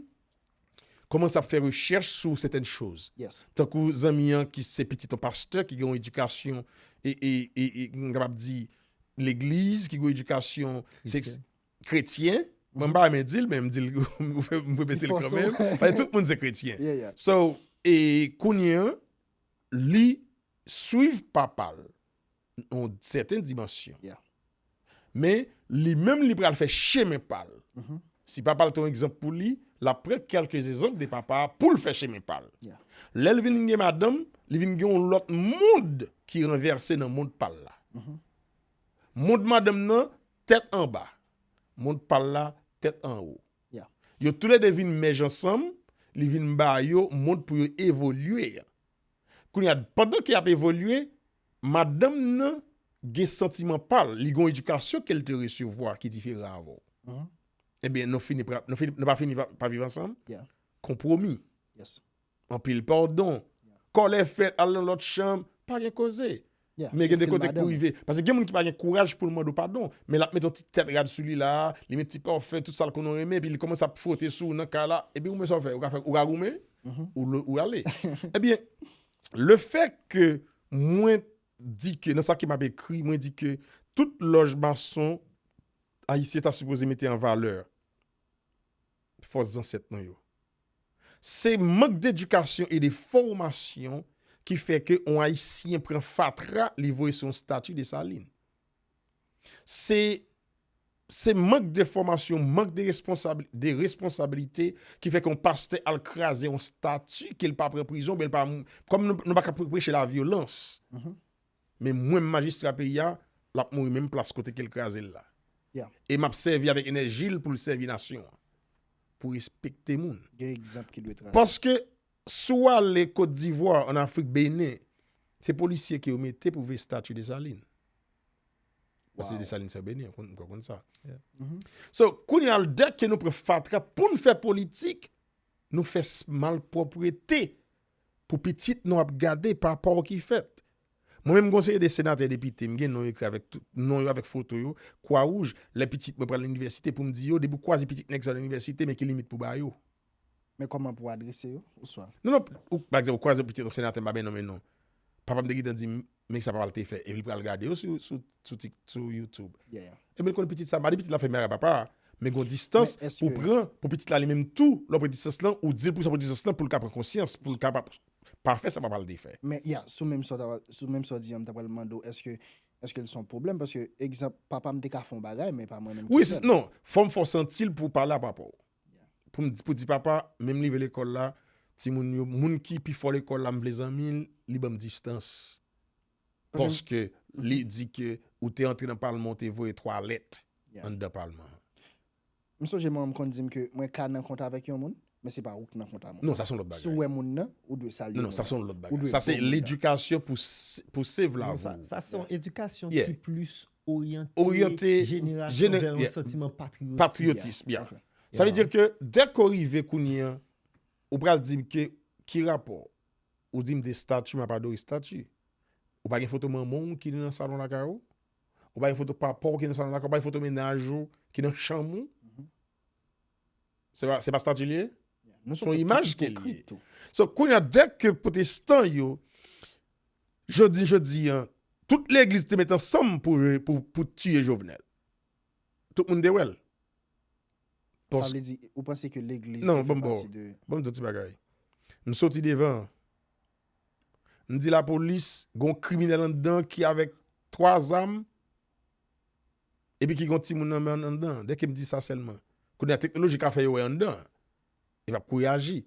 kòmanse ap fè rechèch sou sètèn choz tankou zanmi an ki se pitit yon pastè ki gen yon edikasyon e e e m kapab di legliz ki gen yon edikasyon kretyen, mwen pa renmen di l men m di l m repete l kanmenm, paske tout moun se kretyen. So, e kounye an, li swiv papa l nan yon sèten dimansyon. Men, li menm li pral fè chemen pa l. Mm-hmm. Si papa l te yon egzanp pou li, l ap pran kèlke ezanp de papa a pou l fè chemen pa l. Lè l vin gen madanm, li vin gen yon lòt mond ki ranvèse nan mond pa l la. Mm-hmm. Mond madanm nan Tèt anba, mond pa l la, tèt anwo. Yo toule de vin mèj ansanm, li vin ba yo mond pou yo evolye a. Kounye a, pandan ke y ap evolye, madanm nan gen santiman pa l, li gen yon edikasyon ke l te resevwa ki diferan avè w. Enben, nou fini pa viv ansanm? Konpwomi. Anpil pardon. Kòlè fèt al nan lòt chanm, pa gen koze. Men gen de kote ki pou rive. Pase gen moun ki pa gen kouraj pou l mande w padon. Men l ap mete yon ti tèt rad sou li la a, li mete ti parfum, tout sa l konnen w renmen, epi li kòmanse ap fwote sou ou nan kay la. Epi ou menm sa w fè? Ou ka fè, ou ka goumen? Ou ale? Ebyen, le fè ke mwen di ke, nan sa ke m ap ekri, mwen di ke tout lòj mason ayisyen ta sipoze mete an valè. fòs zansèt nou yo. Se mank dedikasyon e de fòmasyon ki fè ke on Ayisyen pran fatra li voye sou on stati Desalin. Se se mank de fòmasyon, mank de responsab, de responsabilite ki fè ke on pastè al kraze on stati ke li pa pran prizon, oubyen li pa, kòm nou pa ka preche lavyolans, Men mwen majistra peyi a, l ap mouri menm plas kote ke l kraze l la. E m ap sèvi avèk enèji l pou l sèvi nasyon an. Pou respekte moun. Paske si w ale Kot Divwa, an Afrik, Benen, se polisye ke yo mete pou veye stati Desalin. Paske Desalin se Benen, ou pa konn sa. So, kounye a lè ke nou pran fatra pou n fè politik, nou fè malpwoprete pou pitit nou ap gade pa paw ki fèt. Mwen menm gon seri de senatè depite mgen non yo ekri avèk tout non yo avèk foto yo kwa wouj lè pitit mwen pral inivèsite poum di yo depi ou kwaze pitit nèg sa nan inivèsite men ki limit pou bayo. Men kòman pou adrese yo? Oswa. Non non, ou pa egzanp ou kwaze pitit yon senatè m pa bay non men non. Papam te gentan dim Men sa papa l te fè. Epi li pral gade yo sou YouTube. Epi l konn pitit sa, malgre pitit la fè mè a papa a, men gon distans pou pran pou pitit la li menm tou. Lè w pran distans lan, ou di l pou sa w pran distans lan pou l ka pran konsyans, pou l ka pa fè sa papa l te fè. Men ya, sou menm sa w di an, m ta pral mande w, èske l se yon pwoblèm? Paske, egzanp, papa m te ka fè yon bagay, men pa mwen menm ki fè l. Non, fò m fè w santi l pou w pale a papa w. Pou di papa menm live lekòl la timoun yo moun ki pi fò lekòl la m vle zanmi l li banm distans paske li di ke ou te antre nan palman ou te voye 3 lèt anndan palman an. M sonje manman m konn di m ke mwen ka nan kont avèk yon moun men se pa ou k nan kont a mwen si w wè moun nan ou dwe salye moun nan ou dwe bon moun nan. Sa se ledikasyon pou save la vi w. Sa se yon edikasyon ki plis Oryante jenerasyon vè yon santiman patriyotism. Sa vle di ke dèk ou rive kounye an, ou pral di m ke ki rapò? Ou di m de stati, m ap adore stati. Ou pa gen foto manman w ki nan salon lakay ou? Ou pa gen foto papa w ki nan salon lakay ou? Ou pa gen foto mennaj ou ki nan chanm ou? Se pa, se pa stati li ye? Se yon imaj ke li ye. So, kounye a, dèk ke pwotestan yo, jodi jodi a, tout legliz te met ansanm pou, pou tiye Jovenel. Tout moun te wè l. Sa vle di, ou panse ke legliz te fè pati de. Non, banm di w ti bagay. M soti devan. M di lapolis, gon kriminèl anndan ki avèk 3 zam. epi ki gen yon timoun nan men an anndan, dè ke m di sa sèlman, kounye a teknoloji ka fè yo wè anndan an, e pa pou reyaji,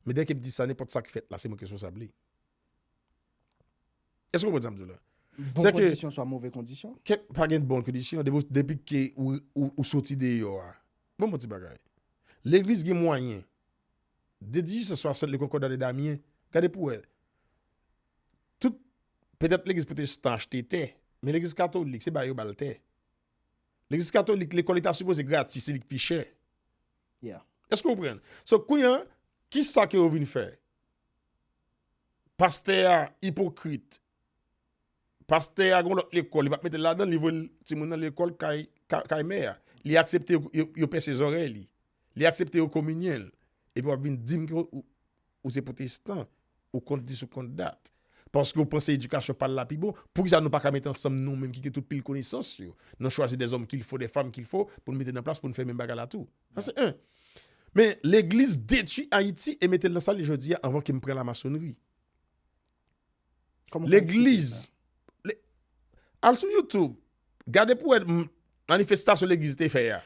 men dè ke m di sa nenpòt sa ki fèt la se mwen ki responsab li. Èske w konprann sa m di w la? Bon kondisyon swa move kondisyon? Pa gen bon kondisyon, depi ke ou soti deyò a, ban m yon ti bagay, legliz gen mwayen, de dijisans swa sèt le kònkòda de Damyen, gade pou wè, Tout, petèt legliz potestan achte tè, men legliz katolik se ba yo ba l tè. Legliz katolik lekòl li ta sipoze gratis, se li ki pi chè. Yeah. Èske ou konprann? So, kounye an, ki sa ke yo vin fè? Pastè a ipokrit. Pastè a gen yon lòt lekòl, li pa mete l ladan l, li voye timoun nan lekòl kay, kay mè a. Li aksepte yo pèse zòrèy li. Li aksepte yo kominyen l. Epi w ap vin di m ke ou. Ou se potestan, ou kont dis ou kont dat. Paske ou panse edikasyon pal la pi bon, poukisa nou paka mete ansanm nou menm ki gen tout pil konesans yo, nou chwazi dè zòm kilfo, dè fanm kilfo pou nou mete nan plas pou nou fè menm bagay la tou. Sa se 1. Men, legliz detui Ayiti e mete l nan sa l ye jodi a anvan ke m pran lamasonnri. Kòman w ka eksplike sa? Legliz, al sou youtube, gade pou wè manifestasyon legliz te fè a.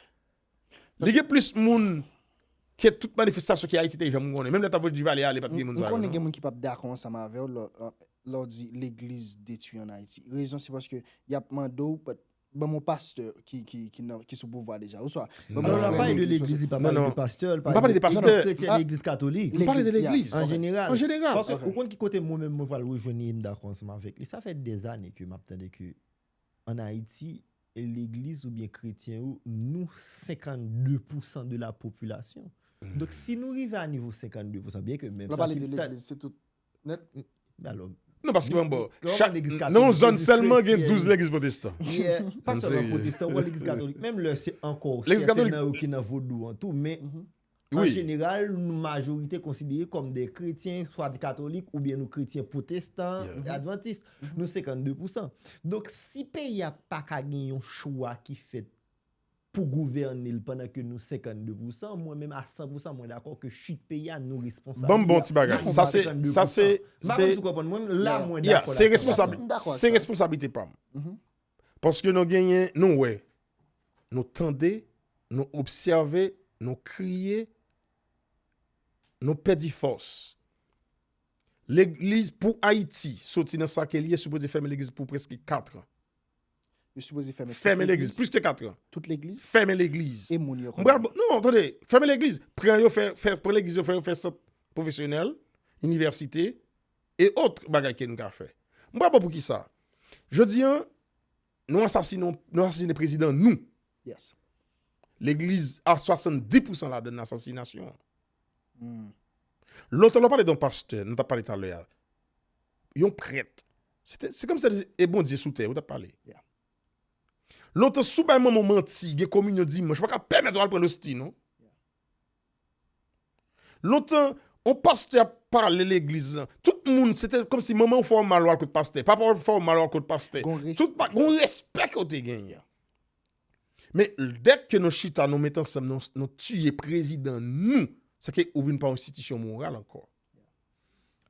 Li gen plis moun ke tout manifestasyon ke Ayiti te janm konnen. Menm lè ta voye Duvalier ale, pa t gen moun sa yo. M konnen gen moun ki pap dakò ansanm avè w lè w di legliz detwi an Ayiti. Rezon se paske y ap mande w ban m yon pastè ki sou pouvwa deja. Oswa ban m yon frè legliz. Non, li pa pale de pastè. M pa pale de pastè. Yon kretyen legliz katolik. M pale de legliz. An jeneral. An jeneral. Ou konn ki kote mwen menm mwen pral rejwenn li e m dakò ansanm avèk li. Sa fè dèzane ke m ap tande ke an Ayiti, legliz oubyen kretyen yo, nou 52 pousan de la popilasyon. Donk si nou rive a nivo 52 pousan, byen ke menm sa. Lè w pale de legliz, se tout nèt? Alò. Non paske mwen ba w, chak, nan yon zòn sèlman gen 12 legliz pwotestan. Pa sèlman pwotestan, ou wè legliz katolik, menm lè se ankò, sèten nan yo ki nan vodou an tou, men. An jeneral, nou majorite konsidere kòm de kretyen, swa de katolik oubyen nou kretyen pwotestan, advantis. Nou 52 pousan. Donk, si peyi a pa ka gen yon chwa ki fèt pou gouvène l pandan ke nou 52 pousan, mwen menm a 100 pousan mwen dakò ke chit peyi a nou responsab li. Banm bon ti bagay. Sa se, sa se, se, ya, ya, se responsab, se responsablite pa m. Paske nou genyen, nou wè, nou tande, nou obsève, nou kriye, nou pèdi fòs. Legliz pou Ayiti soti nan sa ke li ye sipoze fèmen legliz pou preske katran. Yo sipoze fèmen tout legliz? Fèmen legliz, plis ke katran. Tout legliz? Fèmen legliz. E moun yo konnen? Non, tande, fèmen legliz. Pran yo fè, pran legliz yo fè yo fè sant pwofesyonèl, inivèsite, et autres bagay ke n ka fè. M pa wè poukisa jodi an nou asasine yon, nou asasine prezidan nou. Yes. Legliz a 70 pousan ladann asasinasyon. Lontan lè w pale de yon pastè, nou t ap pale talè a, yon prèt, se te, se kòm si se e Bondye sou tè ou t ap pale. Ya. Lontan si w bay manman w manti, gen kominyon dimanch, ou pa ka pèmèt ou al pran losti non. Lontan, on pastè ap pale legliz lan, tout moun, se te kòmsi manman ou fè ou mal ou al kot pastè, papa ou fè ou mal ou al kot pastè. Gon respè. Gon respè ke ou te genyen. Men, dèk ke nou chita, nou met ansanm, nou tiye prezidan nou, se ke ou vin pa yon enstitisyon moral ankò.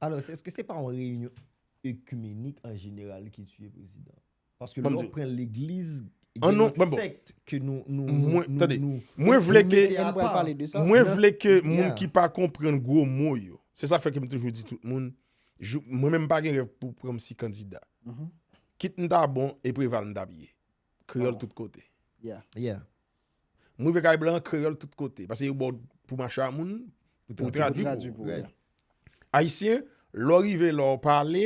Alò, eske se pa yon reyinyon ekimenik an jeneral ki tiye prezidan? Paske lè ou pran legliz gen lòt sèkt ke nou mete apa. Mwen vle ke moun ki pa konprann gwo mo yo. Se sa fè ke m toujou di tout moun, mwen menm m pa gen rèv pou pran m si kandida. Kit m ta bon e Preval m t ap ye. Kreyòl tout kote. M rive kay blan an kreyòl tout kote. Pase yo ba w pou mache a moun, pou yo tradui pou ou. Ayisyen, lè w rive la w pale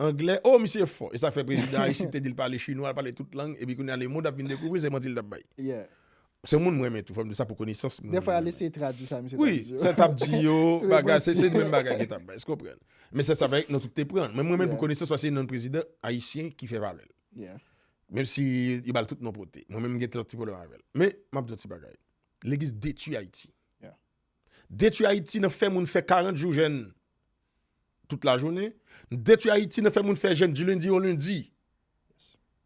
angle, o misye fò. E sa k fè prezidan Aristide te di l pale chinwa, l pale tout lang, epi kounye a lemond ap vin dekouvri l se manti l t ap bay. Se yon moun m renmen tou, fò m di w sa pou konesans moun. Dèfwa y al eseye tradui sa misye t ap di yo. Wi, sa l t ap di yo, bagay, se di menm bagay yo t ap bay. Èske w konprann? Men se sa fè nou tout te pran l. Men m renmen l pou konesans paske se yon nanm prezidan Ayisyen ki fè valè l. Menm si yo ba l tout non pote. Mwen menm m gen lòt ti pwoblèm avè l. Men, m ap di w yon ti bagay. Legliz detui Ayiti. Detui Ayiti nan fè moun fè 40 jou jèn tout lajounen. Detui Ayiti nan fè moun fè jèn di lendi o lendi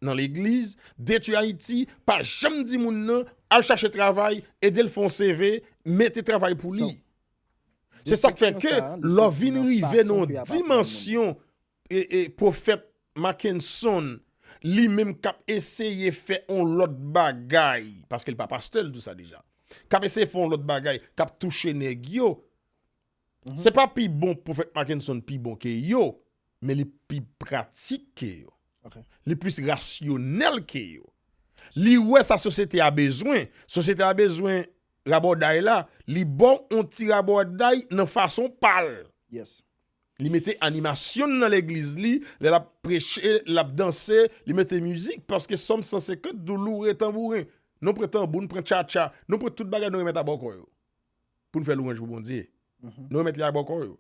nan legliz. Detui Ayiti pa janm di moun nan al chache travay, ede l fè yon CV, mete travay pou li. Se sa k fè ke lò vin rive nan yon dimansyon Profèt Mackenson li menm k ap eseye fè yon lòt bagay, paske li pa pastè, li di w sa deja, k ap eseye fè yon lòt bagay, k ap touche nèg yo, se pa pi bon Profèt Mackenson pi bon ke yo, men li pi pratik ke yo. Li plis rasyonèl ke yo. Li wè sa sosyete a bezwen. Sosyete a bezwen rabòday la, li ba w yon ti rabòday nan fason pa l. Li mete animasyon nan legliz li, lè l ap preche, l ap danse, li mete mizik, paske Sòm 150 di w loure tanbouren, nou pran tanbou, nou pran tchatcha, nou pran tout bagay nou remèt a bòkò yo, pou n fè lwanj pou Bondye. Nou remèt li a bòkò yo.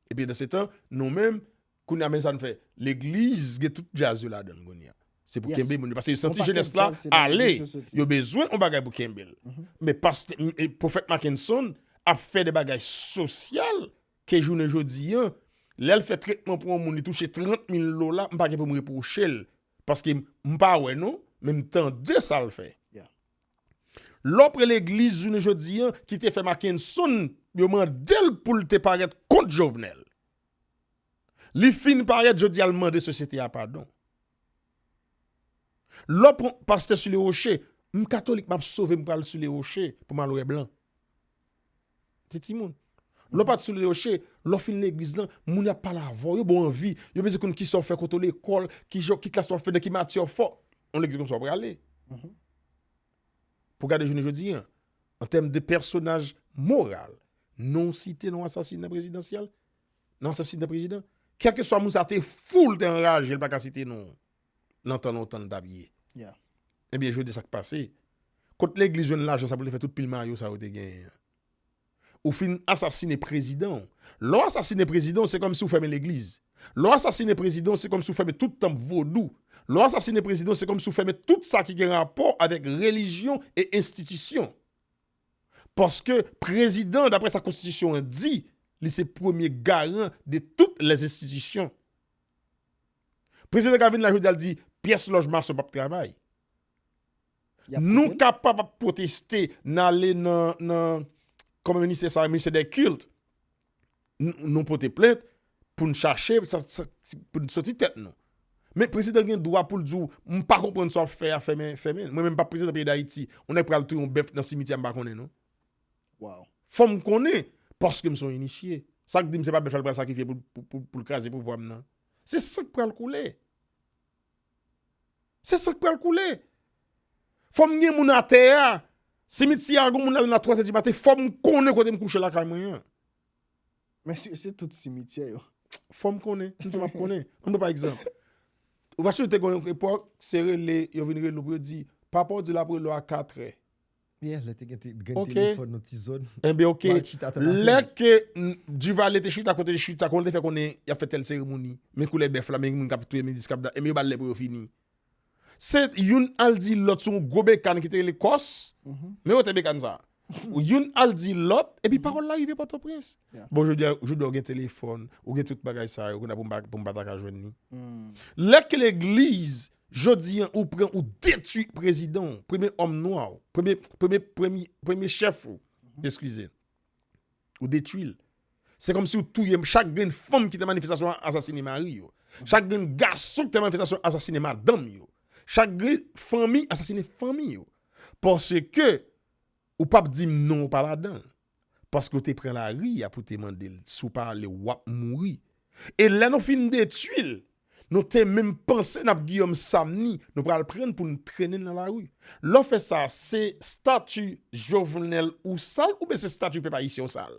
Epi andesetan, nou menm, kounye a men sa n fè, legliz gen tout djaz yo ladan l kounye a. Se pou kenbe moun yo, paske yo santi jenès la ale, yo bezwen yon bagay pou kenbe l. Men pastè, pwofèt Makenson ap fè de bagay sosyal, Ke jounen jodi an, lè l fè tretman pou yon moun li touche 30 mil dola, m pa gen pou m repwoche l. Paske m pa wè non, men m tande sa l fè. Lè w pre legliz jounen jodi an ki te fè Makenson, yo mande l pou l te parèt kont Jovenel. Li fin parèt jodi a l mande sosyete a padon. Lò pran pastè sou le roche, m katolik map sove m pral sou le roche pou m al wè blan. Se timoun. Lò pat sou le roche, lò fin legliz lan, moun ap pale avè w, yo ba w anvi, yo bezwen konn kisa w fè, kote w lekòl, ki jan, ki klas wap fè, nan ki matyè w fò. On legliz konsa w prale. Pou gade jounen jodi an, an tèm de pèsonaj moral, non site, non asasina prezidansyèl, nan asasina prezidan kelkeswa moun sa te fou li te anraje li pa ka site non nan tan lontan li tap ye ebyen jodi sak pase kot legliz jwenn lajan sa pou li te fè tout pil mayo sa yo te genyen an ou fin asasine prezidan lè w asasine prezidan se kòmsi w fèmen legliz lè w asasine prezidan se kòmsi w fèmen tout tanp vodou lè w asasine prezidan se kòmsi w fèmen tout sa ki gen rapò avèk relijyon e enstitisyon Paske prezidan an daprè sa konstitisyon an di, li se premye garan de tout lè enstitisyon. Prezidan ka vin la jodi a l di pyès lòj mason pap travay. Nou kapab ap pwoteste, n ale nan kòman ministè sa rele ministè dè kilt. nou pote plent pou n chache pou n soti tèt nou. Men prezidan gen dwa pou l di w m pa konprann sa w ap fè a fèmen fèmen l. Mwen menm m pa prezidan peyi Dayiti on nèg pral touye yon bèf nan simityè a m pa konnen non. Fò m konnen paske m son inisye. Sa k di m se pa bèf la l pral sakrifye pou l kraze pouvwa m nan. Se san k pral koule. Se san k pral koule. Fò m gen moun atè a. Simityè a gen moun ladan l a twazè di maten. Fò m konnen kote m kouche lakay mwen an. Men si se tout simityè yo. Fò m konnen. M di m ap konnen. An nou pa egzanp. Ou pa sonje te gen yon epòk se rele yo vin rele w pou yo di papa w di l ap rele w a katrè. Yeah, lè te gen telefòn nan ti zòn. Enben ok, lè ke Duvalier te chita kote li chita, kòman li te fè konnen y ap fè tèl seremoni, men koulè bèf la, men moun k ap touye Médicis k ap dat, enben yo ba l lè pou yo fini. Se youn al di lòt sou yon gwo bekàn ki te rele kòs, men wotè bekàn sa a. Youn al di lòt, epi pawòl la rive Pòtoprens. Bon jodi a, jodi a ou gen telefòn, ou gen tout bagay sa yo, kounye a pou m pa ta ka jwenn li. Lè ke legliz Jodi an ou pran ou detwi prezidan w, premye òm nwa w, premye, premye, premye, premye chèf ou, eskize. Ou detwi l. Se kòm si ou touye chak grenn fanm ki te manifestasyon an asasine mari yo. Chak grenn gason ki te manifestasyon an asasine madanm yo. Chak grenn fanmi asasine fanmi yo. Paske ou pap di m non ou pa ladan l. paske ou te pran lari a pou te mande l si w pa ale w ap mouri. E lè nou fin detui l, nou te menm panse n ap Giyòm Samni, nou pral pran l pou nou trennen l nan lari. Lè w fè sa, se stati Jovenel ou sal oubyen se stati pèp ayisyen w sal?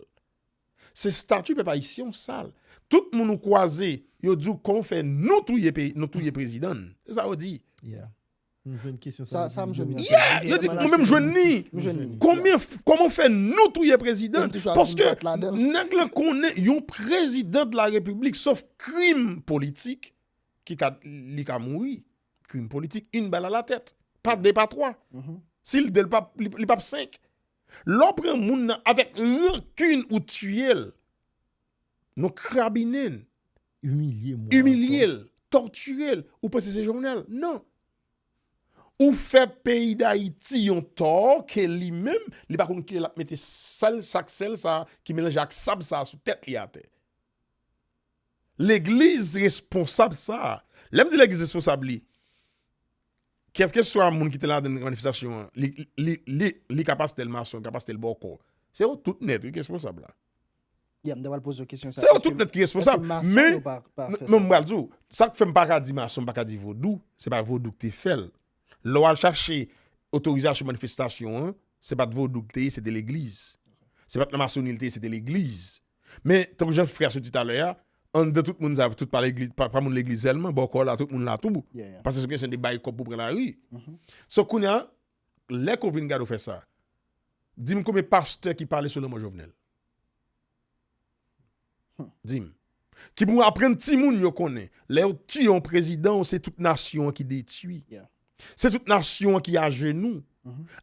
Se stati pèp ayisyen w sal. Tout moun ou kwaze, yo di w kòman w fè nou touye prezidan n. Se sa yo di. M jwenn kesyon sa. Sa m jwenn. Yeah! Yo di mwen menm jwenn li. M jwenn li. Konbyen, kòman fè nou touye prezidan? Paske nèg lan konnen yon prezidan de la repiblik sof krim politik ki ka, li ka mouri. Krim politik, une balle à la tête. Pa de, pa twa. Si l de, li pap senk. Lè w pran moun nan avèk rancune ou tiye l. Nou krabinen l. Imilye l. Tòtire l. Ou panse se Jovenel? Non. Ou fè peyi Dayiti yon tò ke li menm, li pa konn kilè l ap mete sèl sa ak sèl sa ki melanje ak sab sa sou tèt li atè. Legliz responsab sa, lè m di legliz responsab li, kèlkeswa moun ki te ladan l manifestasyon an, li ka pastèl mason, li ka pastèl bòkò. Se yo tout nèt wi ki responsab la. Yeah, m ta pral poze yo kesyon sa. Se yo tout nèt ki responsab. Eske mason Men, yo pa, pa fè sa? non m pral di w, sa k fè m pa ka di mason, m pa ka di vodou, se pa vodou k te fè l. Lè w al chache otorizasyon manifestasyon an, se pa t vodou k te ye, se te legliz. Se pa t nan masonri l te ye, se te legliz. Men, tankou jan frè a sot di talè a, anndan tout moun sa yo, tout pa legliz, pa moun legliz sèlman, bòkò la, tout moun la tou. Yeah, yeah. Pase sou kesyon de bay kòb pou pran lari. So, kounye a, Lè ke w vin gade w fè sa. Dim konbyen pastè ki pale sou lanmò Jovenel? Dim. Ki pou aprann timoun yo konnen. Lè yo tiye yon prezidan w se tout nasyon an ki detwi. Se tout nasyon an ki ajenou.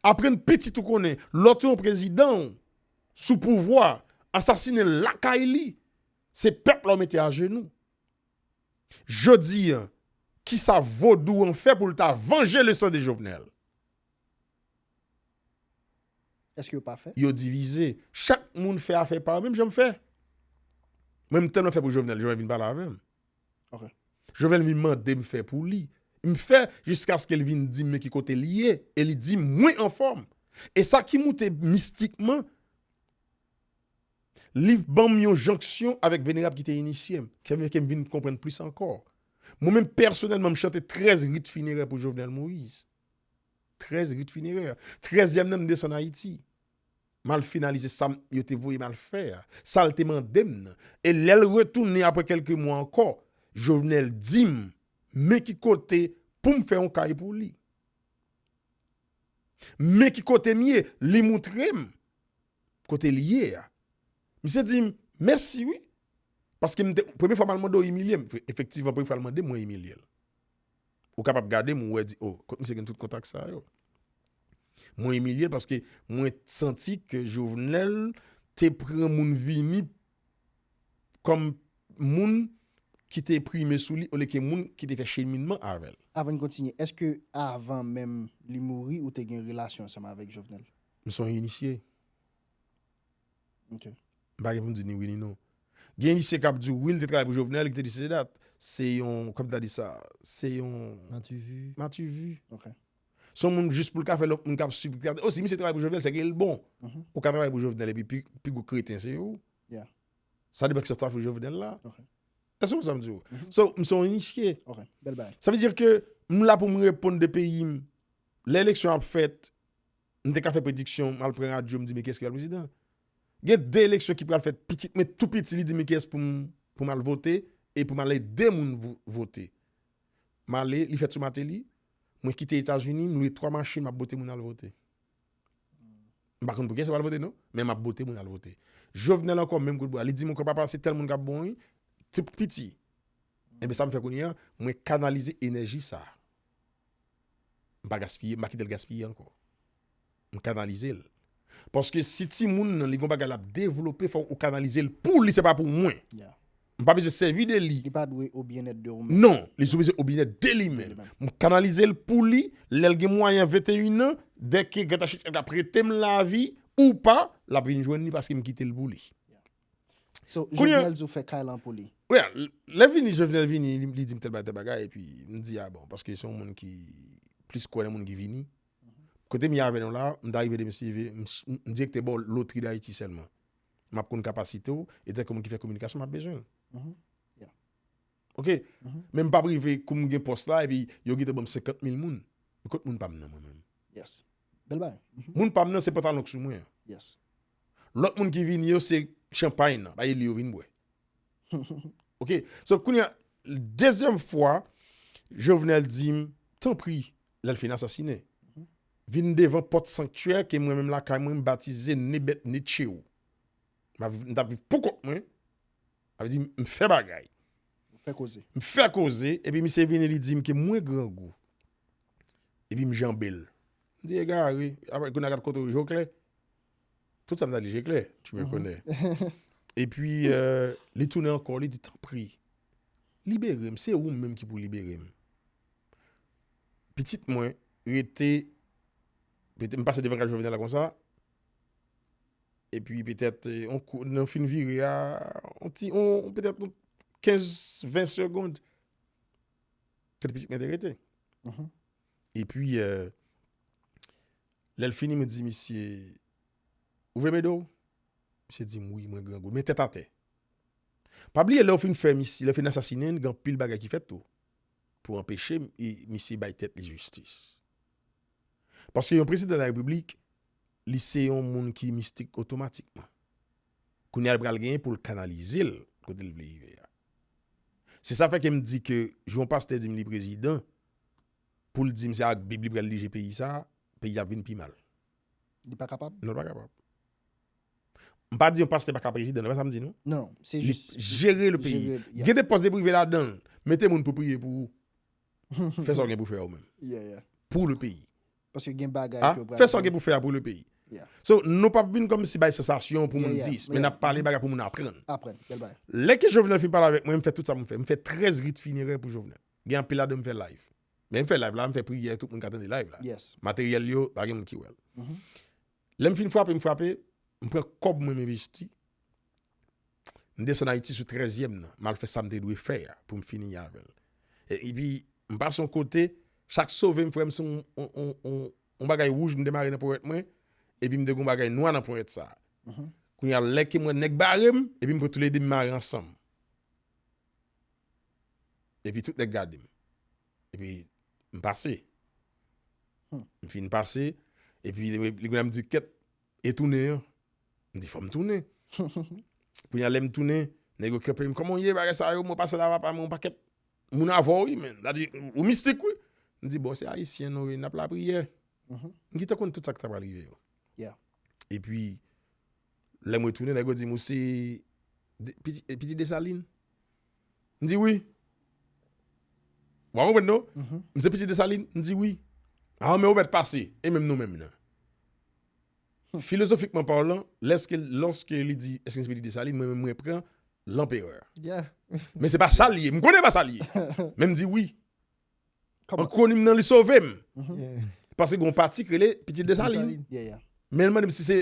Aprann pitit ou konnen. Lè w tiye yon prezidan w sou pouvwa, asasine l lakay li. Se pèp la w mete ajenou. Jodi an, kisa vodou an fè pou l ta vanje le san de Jovenel? Eske yo pa fè? Yo divize. Chak moun fè afè pa yo menm jan m fè. Mwen m tèlman fè pou Jovenel, Jovenel vin pale avè m. Ok. Jovenel vin mande m fè pou li. M fè jiskaske l vin di m men ki kote li ye. E li di m mwen anfòm. E sa ki moute mistikman. Liv ban m yon jonksyon avèk Venerab ki te inisye m, ki fè ke m vin konprann plis ankò. Mwen menm pèsonèlman m chante 13 rit finerè pou Jovenel Moïse. 13 rit finerè. Trèzyèm nan m desann Ayiti. M al finalize sa m yo te voye m al fè a, sa l te mande m nan. E lè l retounen apre kèlke mwa ankò, Jovenel di m men ki kote pou m fè yon kay pou li. Men ki kote m ye, li moutre m. kote li ye a. Misye di m mèsi wi, paske m te, premye fwa m al mande w imilye m, efektivman premye fwa l mande m mwen imilye l. Ou kapab gade m ou wè di o, kot misye gen tout kontak sa yo. Mwen imilye l paske mwen santi ke Jovenel te pran moun vini kòm moun ki te prime sou li olye ke moun ki te fè cheminman avè l. Avan n kontinye, èske avan menm li mouri ou te gen relasyon ansanm avèk Jovenel? M son inisye. Ok. M pa gen pou m di ni wi ni non. Gen inisye k ap di w wi li te travay pou Jovenel, li te di sesi sela. Se yon, kòm ta di sa, se yon. Mativi. Mativi. Ok. Se yon moun jis pou l ka fè lòt moun k ap swiv. O si misye travay pou Jovenel sèke l bon. Ou ka travay pou Jovenel epi pi gwo kreten se ou. Ya. Sa depan ki sa w ta fè pou Jovenel la. Ok. Èske w konprann sa m di w? So, m son inisye. Ok. Bèl bagay. Sa vle di ke m la pou m reponn de peyi m. Lè eleksyon ap fèt, M te ka fè prediksyon mal pran radyo m di men kiyès ki pral prezidan. Gen 2 eleksyon ki pral fèt pitit mwen tou piti li di men kiyès pou m pou m al vote e pou m al ede moun vote. M ale li fèt sou Mateli, mwen kite Etazini m lwe 3 machin m ap bote moun al vote. M pa konn pou kiyès yo pral vote non men m ap bote moun al vote. Jovenel ankò menm kout bwa li di m ankò papa se tèl moun k ap bon wi ti piti. Enben sa m fè kounye a mwen kanalize enèji sa. M pa gaspiye, m pa kite l gaspiye ankò. M kanalize l. Paske si timoun nan li gen yon bagay l ap devlope, fò ou kanalize l pou li, se pa pou mwen. M pa bezwen sèvi de li. Li pa dwe o byennèt de ou menm. Non, li sou bezwen o byennèt de li menm. M kanalize l pou li, lè l gen mwayen 21 an, dèke Grann Tachita ap prete m lavi ou pa, l ap vin jwenn li paske m kite l pou li. So, Kounye- Jovenel di ou fè kay lan pou li. Wè, lè vini, Jovenel vini, li li di m tèl bagay tèl bagay, epi m di a bon, paske se yon moun ki plis kwè nan moun ki vini. Kote m ye avè nou la, m ta rive di msye vi, m s- m direkte ba w lotri Dayiti sèlman. M ap konn kapasite w, e tankou moun ki fè kominikasyon, m ap bezwen l. Mhm. Yeah. Ok? Mhm. Men m pa p rive kou m gen pòs la, epi yo gite ban m 50 mil moun. Kot moun pa m nan mwen menm? Yes. Bèl bagay. Mhm. Moun pa m nan se pantalon k sou mwen an. Yes. Lot moun ki vini yo se chanpay nan bay li yo vin bwe. Ok so kounya dezyem fwa Jovenel dim tanpri lèl fin asasine vin devan pot sanktyè ke mwen menm lakay mwen m batize Nebet Netcheou. M tap viv pou kont mwen sa vle di m fè bagay. M fè koze epi misye vini li dim ke mwen grangou epi m janbe l. M di egare, apre kounye a kat kote ou je w klè? Tout sa m ta di je klè, tu me connais. Epi li tounen ankò, li di tanpri, libere m, se ou menm ki pou libere m. Pitit mwen rete, m pase devan kay Jovenel la konsa, epi petèt nan fin vire a, petèt 15, 20 segond, Kote pitit mwen te rete. E pi, lè l fini, mwen di misye, ou vle m ede w? Misye di m, wi, mwen grangou. Men tèt atè. Pa bliye lè yo fin fè misye, lè yo fin asasinen l, gen anpil bagay ki fèt tou pou anpeche misye bay tèt li jistis. Paske yon prezidan larepiblik, li se yon moun ki mistik otomatikman. Kounye a l pral gen pou l kanalize l kote l vle rive a. Se sa fè ke m di ke jou yon pastè di m li prezidan, pou l di m se ak bib li pral dije peyi sa a, peyi a ap vin pi mal. Li pa kapab? Non, li pa kapab. M pa di yon pastè pa ka prezidan, se pa sa m di non. Non, non, se jis. Li jere le peyi. Gen de pòs li prive ladan l. Mete moun pou priye pou ou. Fè sa w gen pou fè yo menm. Pou le peyi. Paske gen bagay ke yo pral di. Fè sa w gen pou fè a pou le peyi. So, nou pap vin kòmsi bay sansasyon pou moun di, men nap pale bagay pou moun aprann. Aprann, bèl bagay. Lè ke Jovenel fin pale avèk mwen, m fè tout sa pou m fè. M fè 13 rit finerè pou Jovenel. Gen anpil ladan yo m fè live. Men m fè live la, m fè priyè, tout moun ka tande live la. Materyèl yo, pa gen moun ki wè l. Lè m fin frape, m frape, m pran kòb mwen m envesti. M desann Ayiti sou trèzyèm nan, m al fè sa m te dwe fè a pou m fini avè l. Epi, m pase yon kote, chak sove m frè m se yon bagay wouj m te mare nan ponyèt mwen, epi m te gen yon bagay nwa nan ponyèt sa a. Kounye a, lè ke m wè nèg bare m, epi m pran toulede m mare ansanm. Epi tout nèg gade m. Epi, m pase. M fin pase, epi li gen lè m di kèt. E tounen an? M di fò m tounen. Kounye a lè m tounen, nèg yo kenpe m, kòman w ye, bagay sa yo, mwen pase la va pami yon pakèt moun avè w wi men. Sa di, ou mistik wi. M di bon, se Ayisyen nou ye, n ap lapriyè. M gentan konn tout sa ki ta pral rive yo. E pi, lè m retounen, nèg yo di m, ou se piti Desalin? M di wi. Ou pa konprann non. M se pitit Desalin? M di wi. A anmè ou mèt pase, e menm nou menm nan? Filozofikman palan, lèske, lòske li di eske m se pitit Desalin, mwen menm mwen pran Lanperè. Men se pa sa l ye. M konnen pa sa l ye. Men m di wi. An kwonim nan li sove m. Pase gen yon pati ki rele pitit Desalin. Men l mande m si se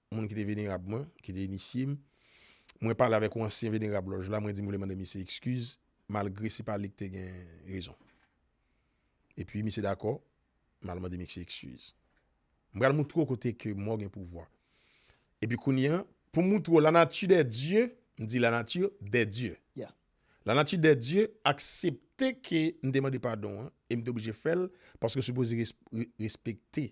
moun ki te venerab mwen, ki te inisye m, mwen pale avèk yon ansyen venerab lòj la, mwen di m vle mande misye ekskiz, malgre se pa li ki te gen rezon. Epi misye dakò, m al mande misye ekskiz. M pral moutre w kote ke mò gen pouvwa. Epi kounye an, pou m moutre w lanati dè dye, m di lanati dè dye. Lanati dè dye aksepte ke m te mande padon an, e m te oblije fè l, paske w sipoze respekte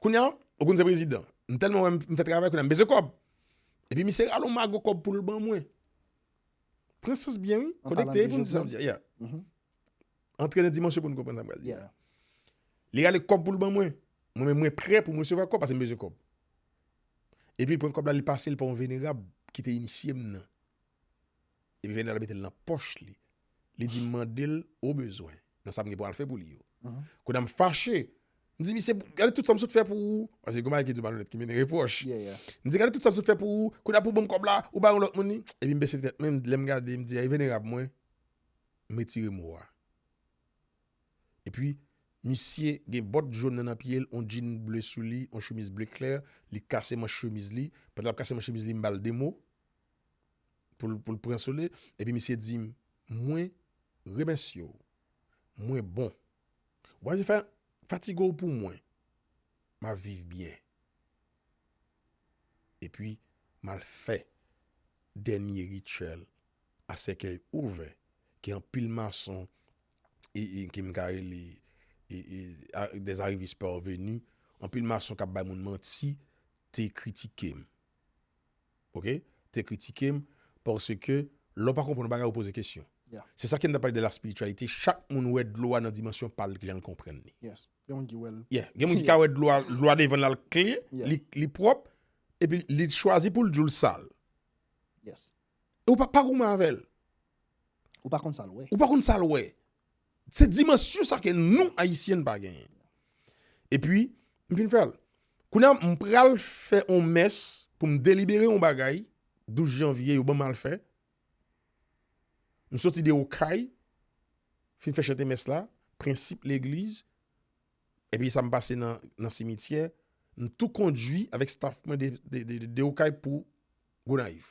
Kounya ou konn se prezidan. M tèlman wè m fè travay kounya m bezwen kòb. Epi misye rale yon mago kòb pou l ban mwen. Pran sans byen wi. Konekte pou n di sa m di a. Antre nan dimansyon pou n konprann sa m pral di a. Li rale kòb pou l ban mwen. Mwen menm mwen prè pou m resevwa kòb paske m bezwen kòb. Epi l pran kòb la li pase l pa yon venerab ki te inisye m nan. Epi Fèdinand mete l nan pòch li. Li di m mande l ou bezwen nan sa m gen pou al fè pou li yo. Kounye a m fache. M di misye, gade tout sa m sot fè pou ou. Paske gen yon bagay ki di w malonèt ki mennen repwòch. M di gade tout sa m sot fè pou ou, kounye a pou w ban m kòb la, ou bay yon lòt moun li. Epi m bese tèt mwen, lè m gade, m di a e venerab mwen, m retire mo a. Epi misye gen bòt jòn nan nan pye l, yon djin ble sou li, yon chemiz ble klè, li kase manch chemiz li. Pandan l ap kase manch chemiz li, m ba l 2 mo. pou l pran sole, epi misye di, Mwen remèsye w, mwen bon. W pa bezwen fatige w pou mwen, m ap viv byen. Epi m al fè dènye rityèl a sèkèy ouvè ke anpil mason e ke m ka rele dèzarivis pèveni, anpil mason k ap bay moun manti te kritike m. Ok te kritike m paske lè w pa konprann yon bagay ou poze kesyon. Se sa ke n ap pale de la spirityalite chak moun wè dlo a nan dimansyon pa l ki jan l konprann li. Yes gen moun ki wè l. Yeah gen moun ki ka wè dlo a dlo a devan l la l klè li pwòp epi li chwazi pou l di w l sal. Yes. Ou pa pa goumen avè l. Ou pa konn sa l wè. Ou pa konn sa l wè. Se dimansyon sa ke nou Ayisyen pa genyen. E pi, m fin fè l. Kounye a, m pral fè yon mès pou m delibere yon bagay 12 janvye yo ban m al fè. M soti de Okay, fin fè chante mès la, prensip legliz, e pi sa m pase nan simityè, m tou kondui avèk staf mwen de Okay pou Gonayiv.